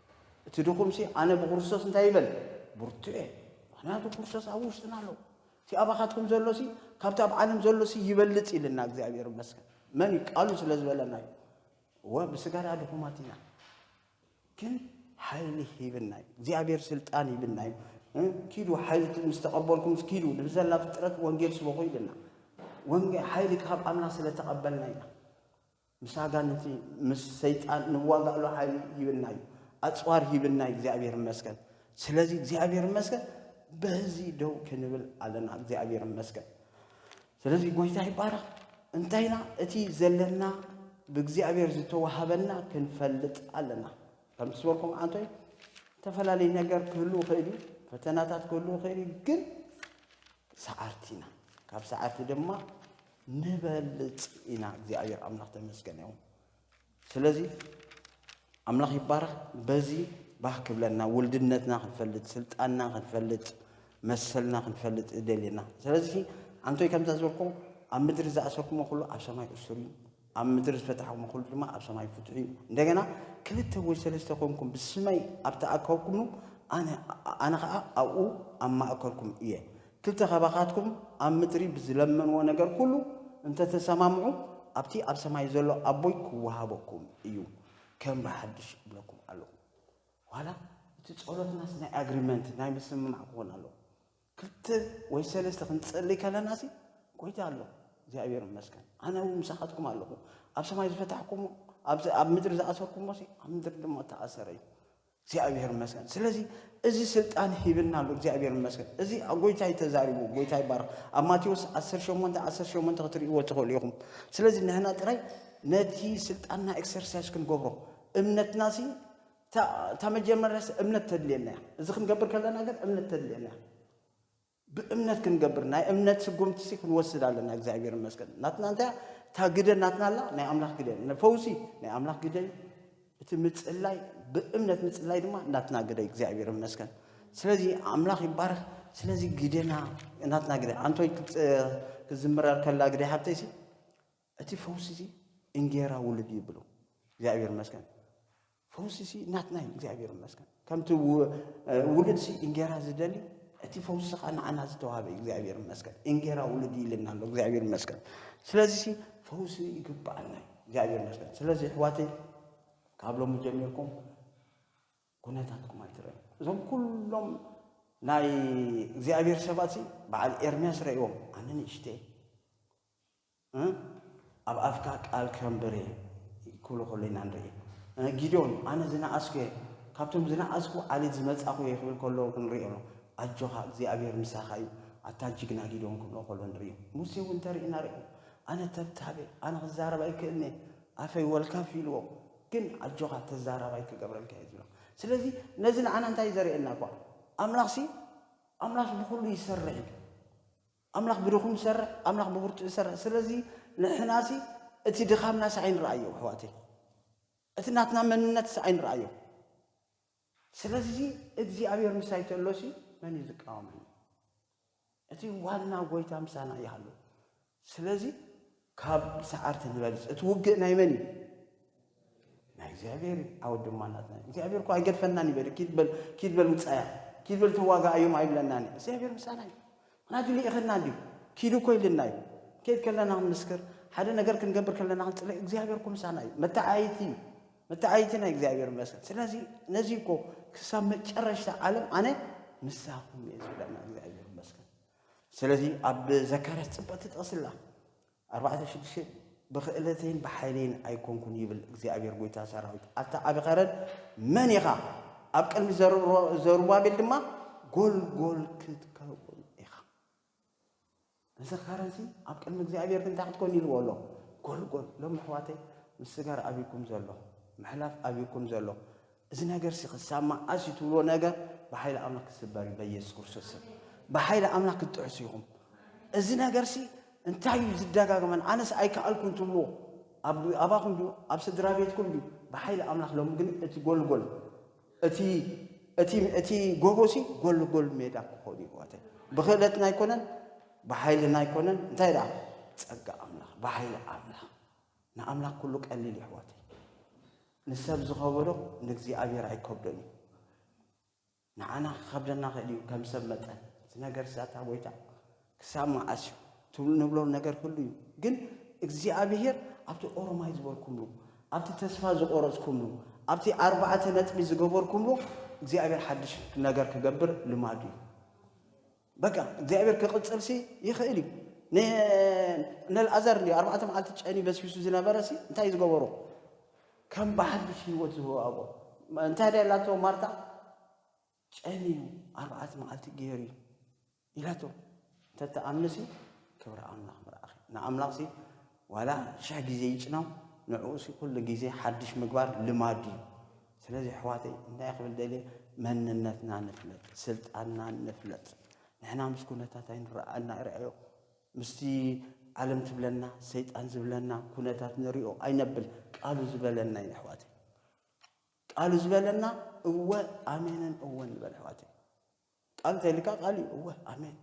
እቲ ድኹምሲ ኣነ ብክርስቶስ እንታይ ይበል ብርቱዕ እየ። ምክንያቱ ክርስቶስ ኣብ ውሽጥና ኣለዉ። እቲ ኣባኻትኩም ዘሎሲ ካብቲ ኣብ ዓለም ዘሎሲ ይበልጽ ኢልና እግዚኣብሔር ይመስገን። መን እዩ ቃሉ ስለ ዝበለና እዩ። እወ ብስጋዳ ድኹማት ኢና። ግን ሓይሊ ሂብና እዩ እግዚኣብሔር ስልጣን ሂብና እዩ ኪዱ ሓይሊ ምስ ተቐበልኩም ኪዱ ንዘላ ፍጥረት ወንጌል ስበኹ ኢልና ወንጌል ሓይሊ ካብ ኣምላኽ ስለ ተቐበልና ኢና ምስ ኣጋንንቲ ምስ ሰይጣን ንዋጋእሉ ሓይሊ ሂብና እዩ ኣፅዋር ሂብና እዩ እግዚኣብሔር ይመስገን ስለዚ እግዚኣብሔር ይመስገን በዚ ደው ክንብል ኣለና እግዚኣብሔር ይመስገን ስለዚ ጎይታ ይባረኽ እንታይ ኢና እቲ ዘለና ብእግዚኣብሔር ዝተዋሃበና ክንፈልጥ ኣለና ከምቲ ዝበልኩም ኣንቶይ ዝተፈላለዩ ነገር ክህሉ ይኽእል እዩ ፈተናታት ክህሉ ይኽእል እዩ ግን ሰዓርቲ ኢና ካብ ሰዓርቲ ድማ ንበልፅ ኢና እግዚኣብሔር ኣምላኽ ተመስገን እዮም ስለዚ ኣምላኽ ይባረኽ በዚ ባህ ክብለና ውልድነትና ክንፈልጥ ስልጣንና ክንፈልጥ መሰልና ክንፈልጥ ይደልየና ስለዚ ኣንቶይ ከምዛ ዝበልኮ ኣብ ምድሪ ዝኣሰርኩሞ ኩሉ ኣብ ሰማይ እሱር እዩ ኣብ ምድሪ ዝፈታሕኩሞ ኩሉ ድማ ኣብ ሰማይ ፍትሑ እዩ እንደገና ክልተ ወይ ሰለስተ ኮንኩም ብስመይ ኣብ ተኣከብኩምሉ ኣነ ከዓ ኣብኡ ኣብ ማእከልኩም እየ ክልተ ካባኻትኩም ኣብ ምድሪ ብዝለመንዎ ነገር ኩሉ እንተ ተሰማምዑ፣ ኣብቲ ኣብ ሰማይ ዘሎ ኣቦይ ክወሃበኩም እዩ። ከም ብሓድሽ እብለኩም ኣሎኹ። ዋላ እቲ ጸሎትናስ ናይ ኣግሪመንት፣ ናይ ምስምማዕ ክኾን ኣሎዎ። ክልተ ወይ ሰለስተ ክንጸልይ ከለናሲ ጎይታ ኣሎ። እግዚኣብሔር ይመስገን። ኣነ እውን ምሳኻትኩም ኣሎኹ። ኣብ ሰማይ ዝፈታሕኩሞ፣ ኣብዚ ኣብ ምድሪ ዝኣሰርኩሞሲ ኣብ ምድሪ ድማ እተኣሰረ እዩ። እግዚኣብሔር ይመስገን ስለዚ እዚ ስልጣን ሂብና ኣሎ እግዚኣብሔር ይመስገን እዚ ጎይታይ ተዛሪቡ ጎይታ ይባረኽ ኣብ ማቴዎስ 18 18 ክትርእይዎ ትኽእሉ ኢኹም ስለዚ ንሕና ጥራይ ነቲ ስልጣንና ኤክሰርሳይዝ ክንገብሮ እምነትና ሲ እታ መጀመርያስ እምነት ተድልየና እያ እዚ ክንገብር ከለና ግን እምነት ተድልየና እያ ብእምነት ክንገብር ናይ እምነት ስጉምቲ ሲ ክንወስድ ኣለና እግዚኣብሔር ይመስገን ናትና እንታይ እታ ግደ ናትና ኣላ ናይ ኣምላኽ ግደ ፈውሲ ናይ ኣምላኽ ግደ እዩ እቲ ምጽላይ ብእምነት ምጽላይ ድማ ናትና ግደ እግዚኣብሔር ይመስገን ስለዚ ኣምላኽ ይባረኽ ስለዚ ግደና ናትና ግደ ኣንቶይ ክትዝምረር ከላ ግደ ሓብተይሲ እቲ ፈውሲ እዚ እንጌራ ውሉድ እዩ ብሉ እግዚኣብሔር ይመስገን ፈውሲ እዚ ናትና እዩ እግዚኣብሔር ይመስገን ከምቲ ውሉድ ሲ እንጌራ ዝደሊ እቲ ፈውሲ ከዓ ንዓና ዝተዋሃበ እዩ እግዚኣብሔር ይመስገን እንጌራ ውሉድ ይልና ኣሎ እግዚኣብሔር ይመስገን ስለዚ ሲ ፈውሲ ይግባኣና እዩ እግዚኣብሔር ይመስገን ስለዚ ኣሕዋተይ ካብ ሎሚ ጀሚርኩም ኩነታትኩም ኣይትረዩ እዞም ኩሎም ናይ እግዚኣብሔር ሰባት በዓል ኤርምያስ ረእዎም ኣነ ንእሽተይ እ ኣብ ኣፍካ ቃል ክረምበሪ እየ ክብሉ ከሎ ኢና ንርኢ። እ ጊዶን ኣነ ዝነኣስኩ እየ ካብቶም ዝነኣስኩ ዓሌት ዝመጻኹ እየ ክብል ከሎ ክንሪኦ ኣሎ። ኣጆኻ እግዚኣብሔር ምሳኻ እዩ ኣታ ጅግና ጊዶን ክብሎ ከሎ ንሪኦ። ሙሴ እውን ተሪእና ሪኦ ኣነ ተብታብ እየ ኣነ ክዛረብ ኣይክእልን እየ ኣፈይ ወልካፍ ኢልዎ ግን ኣጆኻ ተዛራባይ ክገብረልካ እየ ዝብሎ። ስለዚ ነዚ ንዓና እንታይ ዘርእየና እኳ ኣምላኽሲ ኣምላኽ ንኹሉ ይሰርሕ እዩ። ኣምላኽ ብድኹም ዝሰርሕ ኣምላኽ ብብርቱዕ ዝሰርሕ ስለዚ ንሕናሲ እቲ ድኻምናሲ ኣይንረኣዮ ኣሕዋተይ እቲ ናትና መንነትሲ ኣይንረኣዮ ስለዚ እግዚኣብሔር ምሳይ ተሎሲ መን እዩ ዝቃወመኒ እቲ ዋና ጎይታ ምሳና ይሃሉ ስለዚ ካብ ሰዓርቲ ዝበልፅ እቲ ውግእ ናይ መን እዩ? ናይ እግዚኣብሔር እዩ። ዓወት ድማ ናትና እዩ። እግዚኣብሔር እኮ ኣይገድፈናን ይበል ኪድ በል ኪድ በል ውፃያ ኪድ በል ተዋጋኣዮም ኣይብለናን እዩ። እግዚኣብሔር ምሳና እዩ። ምክንያቱ ልኢኽና እንዲዩ ኪዱ እኮ ኢልና እዩ። ከይድ ከለና ክንምስክር ሓደ ነገር ክንገብር ከለና ክንፅለ እግዚኣብሔር እኮ ምሳና እዩ። መተዓይቲ እዩ። መተዓይቲ ናይ እግዚኣብሔር ይመስገን። ስለዚ ነዚ እኮ ክሳብ መጨረሽታ ዓለም ኣነ ምሳኹም እየ ዝብለና እግዚኣብሔር ይመስገን። ስለዚ ኣብ ዘካርያስ ጽብቕቲ ጥቕሲ ኣላ ኣርባዕተ ሽዱሽተ ብኽእለተይን ብሓይለይን ኣይኮንኩን ይብል እግዚኣብሔር ጎይታ ሰራዊት ኣታ ዓቢ ኸረን መን ኢኻ ኣብ ቅድሚ ዘሩባቤል ድማ ጎልጎል ክትከውን ኢኻ እዚ ኸረንሲ ኣብ ቅድሚ እግዚኣብሔር ግን እንታይ ክትኮን ኢልዎ ኣሎ ጎልጎል ሎም ኣሕዋተይ ምስ ስጋር ኣብኩም ዘሎ ምሕላፍ ኣብኩም ዘሎ እዚ ነገርሲ ክሳብ መዓስ እዩ ትብልዎ ነገር ብሓይሊ ኣምላኽ ክስበር እዩ በኢየሱስ ክርስቶስ ስም ብሓይሊ ኣምላኽ ክትጥዕሱ ኢኹም እዚ ነገርሲ እንታይ እዩ ዝደጋግመን ኣነስ ኣይከኣልኩን ትብልዎ ኣባኹም ድዩ ኣብ ስድራ ቤትኩም ድዩ ብሓይሊ ኣምላኽ ሎሚ ግን እቲ ጎልጎል እቲ እቲ እቲ ጎቦሲ ጎልጎል ሜዳ ክኾኑ ይዋተ ብክእለትና ኣይኮነን ብሓይልና ኣይኮነን እንታይ ደኣ ጸጋ ኣምላኽ ብሓይሊ ኣምላኽ ንኣምላኽ ኩሉ ቀሊል እዩ ኣሕዋተይ። ንሰብ ዝኸበዶ ንእግዚኣብሔር ኣይከብዶን እዩ። ንዓና ክኸብደና ይኽእል እዩ ከም ሰብ መጠን እዚ ነገር ስኣታ ጎይታ ክሳብ መዓስ እዩ ትብሉ ንብሎ ነገር ክሉ እዩ ግን እግዚኣብሔር ኣብቲ ኦሮማይ ዝበልኩምሉ ኣብቲ ተስፋ ዝቆረጽኩምሉ ኣብቲ ኣርባዕተ ነጥቢ ዝገበርኩምሉ እግዚኣብሔር ሓድሽ ነገር ክገብር ልማዱ እዩ። በቃ እግዚኣብሔር ክቕጽልሲ ይኽእል እዩ ነልኣዘር እንዲ ኣርባዕተ መዓልቲ ጨኒ በስቢሱ ዝነበረሲ እንታይ ዝገበሮ ከም ብሓድሽ ህይወት ዝወሃቦ እንታይ ደ ኢላቶ ማርታ ጨኒ እዩ ኣርባዕተ መዓልቲ ገይሩ እዩ ኢላቶ እንተተኣምንሲ ክብሪ ኣምላኽ ምርኣኺ ንኣምላኽሲ ዋላ ሽሕ ግዜ ይጭነው ንዕኡሲ ኩሉ ግዜ ሓድሽ ምግባር ልማዱ እዩ ስለዚ ኣሕዋተይ እንታይ ክብል ደልየ መንነትና ንፍለጥ ስልጣንና ንፍለጥ ንሕና ምስ ኩነታት ኣይንረኣና ርኣዮ ምስቲ ዓለም ትብለና ሰይጣን ዝብለና ኩነታት ንሪኦ ኣይነብል ቃሉ ዝበለና ኢና ኣሕዋተይ ቃሉ ዝበለና እወ ኣሜንን እወ ንበል ኣሕዋተይ ቃሉ ተልካ ቃሉ እወ ኣሜን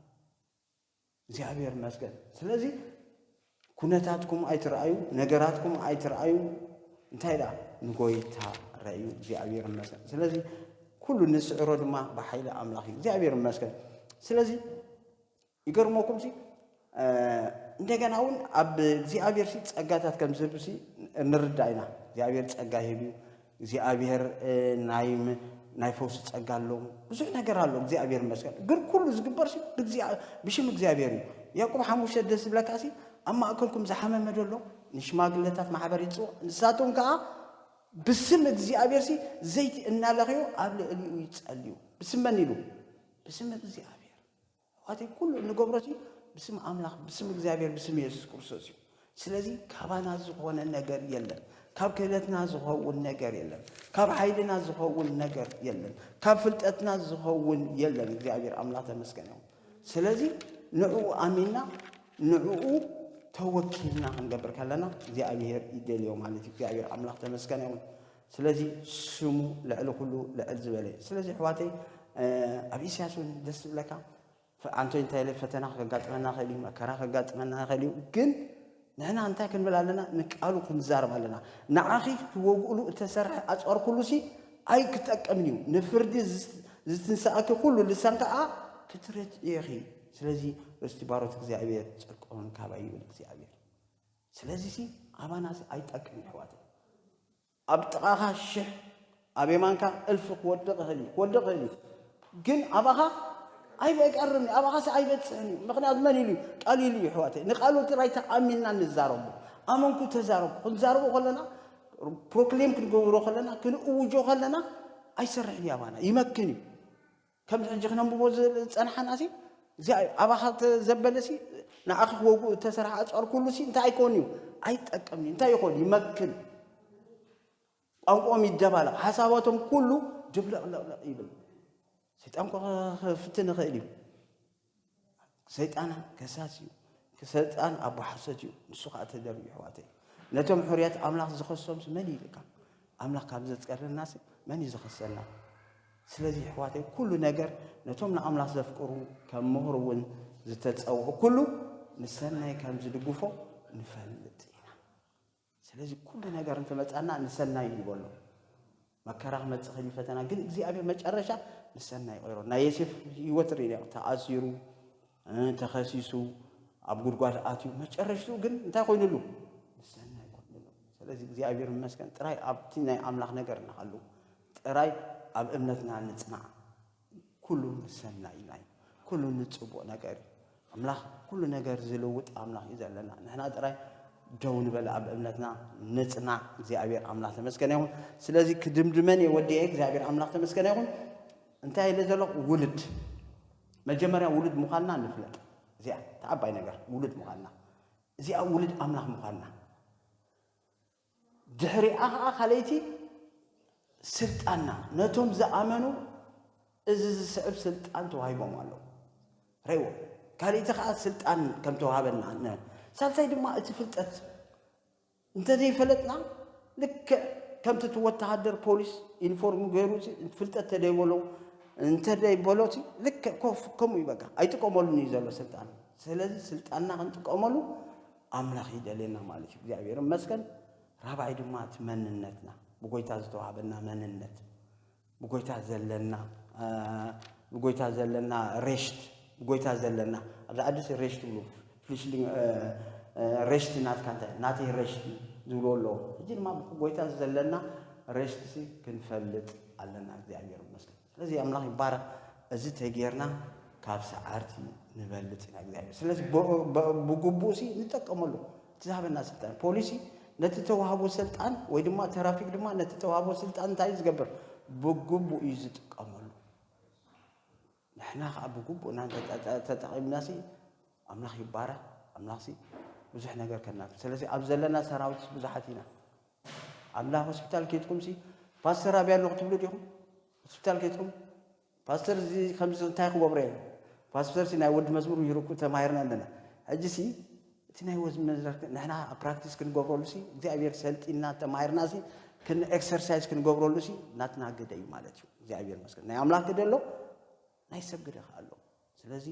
እግዚኣብሔር ይመስገን። ስለዚ ኩነታትኩም ኣይትረኣዩ፣ ነገራትኩም ኣይትረኣዩ፣ እንታይ ደኣ ንጎይታ ረእዩ። እግዚኣብሔር ይመስገን። ስለዚ ኩሉ ንስዕሮ ድማ ብሓይሊ ኣምላኽ እዩ። እግዚኣብሔር ይመስገን። ስለዚ ይገርመኩም ሲ እንደገና እውን ኣብ እግዚኣብሔር ሲ ጸጋታት ከም ዝህብ ሲ ንርዳእ ኢና። እግዚኣብሔር ጸጋ ይህብ እዩ። እግዚኣብሔር ናይ ናይ ፈውሲ ጸጋ ኣሎ ብዙሕ ነገር ኣሎ እግዚኣብሔር ይመስገን ግን ኩሉ ዝግበር ሲ ብሽም እግዚኣብሔር እዩ ያዕቆብ ሓሙሽተ ደስ ዝብለካ ሲ ኣብ ማእከልኩም ዝሓመመ ደሎ ንሽማግለታት ማሕበር ይጽዋዕ ንሳቶም ከዓ ብስም እግዚኣብሔር ሲ ዘይቲ እናለኽዩ ኣብ ልዕሊኡ ይጸልዩ ብስም መን ኢሉ ብስም እግዚኣብሔር ኣሕዋተይ ኩሉ እንገብሮሲ ብስም ኣምላኽ ብስም እግዚኣብሔር ብስም ኢየሱስ ክርስቶስ እዩ። ስለዚ ካባና ዝኾነ ነገር የለን። ካብ ክእለትና ዝኸውን ነገር የለን። ካብ ሓይልና ዝኸውን ነገር የለን። ካብ ፍልጠትና ዝኸውን የለን። እግዚኣብሔር ኣምላኽ ተመስገን ይኹን። ስለዚ ንዕኡ ኣሚንና ንዕኡ ተወኪልና ክንገብር ከለና እግዚኣብሔር ይደልዮ ማለት እዩ። እግዚኣብሔር ኣምላኽ ተመስገን ይኹን። ስለዚ ስሙ ልዕሊ ኩሉ ልዕል ዝበለ እዩ ስለዚ ኣሕዋተይ ኣብ ኢሳያስ እውን ደስ ዝብለካ ኣንቶ እንታይ ኢለ ፈተና ከጋጥመና ይኽእል እዩ መከራ ከጋጥመና ይኽእል እዩ ግን ንሕና እንታይ ክንብል ኣለና ንቃሉ ክንዛረብ ኣለና ንዓኺ ክትወግእሉ እተሰርሐ ኣፅዋር ኩሉ ሲ ኣይክጠቅምን እዩ ንፍርዲ ዝትንሳእኪ ኩሉ ልሳን ከዓ ክትረትዒኺ ስለዚ ርስቲ ባሮት እግዚኣብሔር ፅድቆምን ካባይ ይብል እግዚኣብሔር ስለዚ ሲ ኣባና ሲ ኣይጠቅም የሕዋተይ ኣብ ጥቃካ ሽሕ ኣብ የማንካ እልፊ ክወድቅ ይክእል እዩ ክወድቅ ይክእል እዩ ግን ኣባካ ኣይቀርም እዩ ኣባካ ሲ ኣይበጽሕን እዩ ምክንያቱ መን ኢሉ ቃል ኢሉ እዩ የሕዋተይ ንቃሉ ጥራይ ተኣሚንና ንዛረቡ ኣመንኩ ተዛረቡ ክንዛረቡ ከለና ፕሮክሌም ክንገብሮ ከለና ክንእውጆ ከለና ኣይሰርሕን እዩ ኣባና ይመክን እዩ ከም ሕጂ ክነንብቦ ዝጸናሓናሲ እዚኣ ኣባኻ ዘበለሲ ንኣኺ ክወግኡ እተሰርሐ ኣጽዋር ኩሉሲ እንታይ ኣይኮን እዩ ኣይጠቀምን እንታይ ይኾን ይመክን ቋንቋኦም ይደባለቕ ሓሳባቶም ኩሉ ድብልቕልቕልቕ ይብል ሰይጣን ክፍትን ይኽእል እዩ ሰይጣን ከሳስ እዩ ሰይጣን ኣቦ ሓሶት እዩ ንሱ ከዓ ተደርቢ ይሕዋተይ ነቶም ሕርያት ኣምላኽ ዝኸሶም መን እዩ ኢልካ ኣምላኽ ካብ ዘፅቀረና መን እዩ ዝኸሰና ስለዚ ይሕዋተይ ኩሉ ነገር ነቶም ንኣምላኽ ዘፍቅሩ ከም ምሁር እውን ዝተፀውዑ ኩሉ ንሰናይ ከም ዝድግፎ ንፈልጥ ኢና ስለዚ ኩሉ ነገር እንትመጻና ንሰናይ ንበሎ መከራ ክመጽእ ከይሉ ፈተና ግን እግዚኣብሔር መጨረሻ ንሰናይ ይቀይሮ ናይ ዮሴፍ ህይወት ርኢና ተኣሲሩ ተኸሲሱ ኣብ ጉድጓድ ኣትዩ መጨረሽቱ ግን እንታይ ኮይኑሉ ንሰናይ ኮይኑሉ ስለዚ እግዚኣብሔር ይመስገን ጥራይ ኣብቲ ናይ ኣምላኽ ነገር ንሃሉ ጥራይ ኣብ እምነትና ንጽናዕ ኩሉ ንሰናይ ኢና እዩ ኩሉ ንጽቡቅ ነገር እዩ ኣምላኽ ኩሉ ነገር ዝልውጥ ኣምላኽ እዩ ዘለና ንሕና ጥራይ ደው ንበል ኣብ እምነትና ንጽናዕ እግዚኣብሔር ኣምላኽ ተመስገነ ይኹን ስለዚ ክድምድመን እየ ወዲየ እግዚኣብሔር ኣምላኽ ተመስገነ ይኹን እንታይ ኢለ ዘለኹ ውልድ መጀመርያ ውሉድ ምዃንና ንፍለጥ እዚኣ ተዓባይ ነገር ውሉድ ምዃንና እዚኣ ውሉድ ኣምላኽ ምዃንና ድሕሪኣ ኸኣ ካልኣይቲ ስልጣና ነቶም ዝኣመኑ እዚ ዝስዕብ ስልጣን ተዋሂቦም ኣለዉ። ርኣይዎ፣ ካልእቲ ኸኣ ስልጣን ከም ተዋሃበና ን ሳልሳይ ድማ እቲ ፍልጠት እንተ ዘይፈለጥና ልክዕ ከምቲ እቲ ወተሃደር ፖሊስ ዩኒፎርም ገይሩ ፍልጠት ተደይበሎ እንተደይበሎሲ ልክዕ ኮፍ ከምኡ እዩ በቃ ኣይጥቀመሉን እዩ ዘሎ ስልጣን። ስለዚ ስልጣንና ክንጥቀመሉ ኣምላኽ ይደልየና ማለት እዩ። እግዚኣብሔር ይመስገን። ራብዓይ ድማ እቲ መንነትና ብጎይታ ዝተዋህበና መንነት ብጎይታ ዘለና ብጎይታ ዘለና ሬሽት ብጎይታ ዘለና ኣብዚ ዓዲ ሬሽት ትብሉ ፍሊሽሊንግ ሬሽት ናትካ እንታይ ናተይ ሬሽት ዝብልዎ ኣለዎ ሕጂ ድማ ብጎይታ ዘለና ሬሽት ክንፈልጥ ኣለና እግዚኣብሔር ይመስገን ስለዚ ኣምላኽ ይባረኽ እዚ ተጌርና ካብ ሰዓርቲ ንበልፅ ኢና እግዚኣብሔር ስለዚ ብግቡእ ሲ ንጠቀመሉ እቲ ዝሃበና ስልጣን ፖሊሲ ነቲ ተዋህቦ ስልጣን ወይ ድማ ተራፊክ ድማ ነቲ ተዋህቦ ስልጣን እንታይ እዩ ዝገብር ብግቡእ እዩ ዝጥቀመሉ ንሕና ከዓ ብግቡእ እና ተጠቂምና ሲ ኣምላኽ ይባረኽ ኣምላኽ ሲ ብዙሕ ነገር ከና ስለዚ ኣብ ዘለና ሰራዊት ብዙሓት ኢና ኣላ ሆስፒታል ኬድኩም ሲ ፓስተር ኣብያ ኣሎ ክትብሉ ዲኹም ሆስፒታል ኬድኩም ፓስተር እዚ ከምዚ እንታይ ክገብሮ እየ ፓስተር ሲ ናይ ወዲ መዝሙር ይርኩ ተማሂርና ኣለና ሕጂ ሲ እቲ ናይ ወዲ መዝሙር ንሕና ፕራክቲስ ክንገብረሉ ሲ እግዚኣብሔር ሰልጢና ተማሂርና ሲ ክን ኤክሰርሳይዝ ክንገብረሉ ሲ ናትና ግደ እዩ ማለት እዩ እግዚኣብሔር መስገን ናይ ኣምላክ ግደ ኣሎ ናይ ሰብ ግደ ከኣ ኣሎ። ስለዚ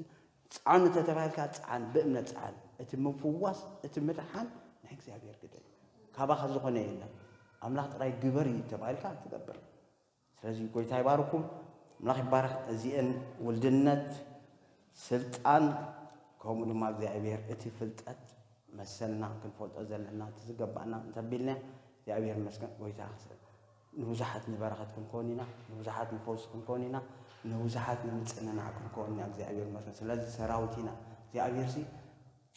ጽዓኑ ተተባሂልካ ጽዓን፣ ብእምነት ጽዓን። እቲ ምፍዋስ እቲ ምድሓን ናይ እግዚኣብሔር ግደ እዩ። ካባኻ ዝኾነ የለን። ኣምላኽ ጥራይ ግበር እዩ ተባሂልካ ትገብር። ስለዚ ጎይታ ይባርኩም፣ ኣምላኽ ይባረኽ። እዚኤን ውልድነት፣ ስልጣን ከምኡ ድማ እግዚኣብሔር እቲ ፍልጠት መሰልና ክንፈልጦ ዘለና እቲ ዝገባእና እንተቢልና እግዚኣብሔር ይመስገን ጎይታ ንብዙሓት ንበረኸት ክንኮን ኢና ንብዙሓት ንፈውሲ ክንኮን ኢና ንብዙሓት ንምጽንናዕ ክንኮን ኢና እግዚኣብሔር ይመስገን ስለዚ ሰራዊት ኢና እግዚኣብሔርሲ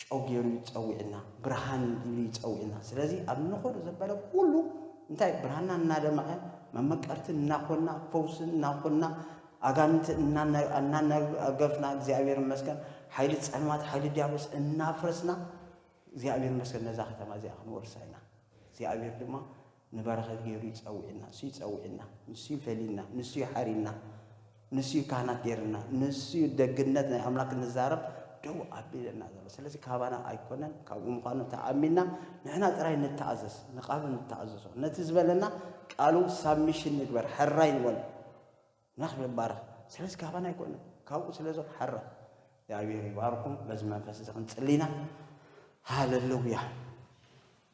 ጨው ገይሩ እዩ ጸዊዕና ብርሃን እዩ ኢሉ ይጸዊዕና ስለዚ ኣብ ንኸዶ ዘበለ ኩሉ እንታይ ብርሃንና እናደመቐ መመቀርቲ እናኮና ፈውሲ እናኮና ኣጋንንቲ እናናገፍና እግዚኣብሔር ይመስገን ሓይሊ ጸልማት ሓይሊ ዲያብሎስ እናፍረስና እግዚኣብሔር ይመስገን ነዛ ከተማ እዚኣ ክንወርሳ ኢና እግዚኣብሔር ድማ ንበረኸት ገይሩ እዩ ጸዊዕና። ንሱ እዩ ጸዊዕና። ንሱ እዩ ፈልዩና። ንሱ እዩ ሓርዩና። ንሱ እዩ ካህናት ገይርና። ንሱ እዩ ደግነት ናይ ኣምላክ ንዛረብ ደው ኣቢለና ዘሎ። ስለዚ ካባና ኣይኮነን፣ ካብኡ ምዃኑ ተኣሚንና ንሕና ጥራይ ንተኣዘዝ፣ ንቃሉ ንተኣዘዞ፣ ነቲ ዝበለና ቃሉ ሳብሚሽን ንግበር፣ ሕራይ ንበሎ። ኣምላኽ ይባረኽ። ስለዚ ካባና ኣይኮነን፣ ካብኡ ስለ ዘሎ ሕራይ። እግዚኣብሔር ይባርኩም። በዚ መንፈስ እዚ ክንጽሊና ሃለሉያ።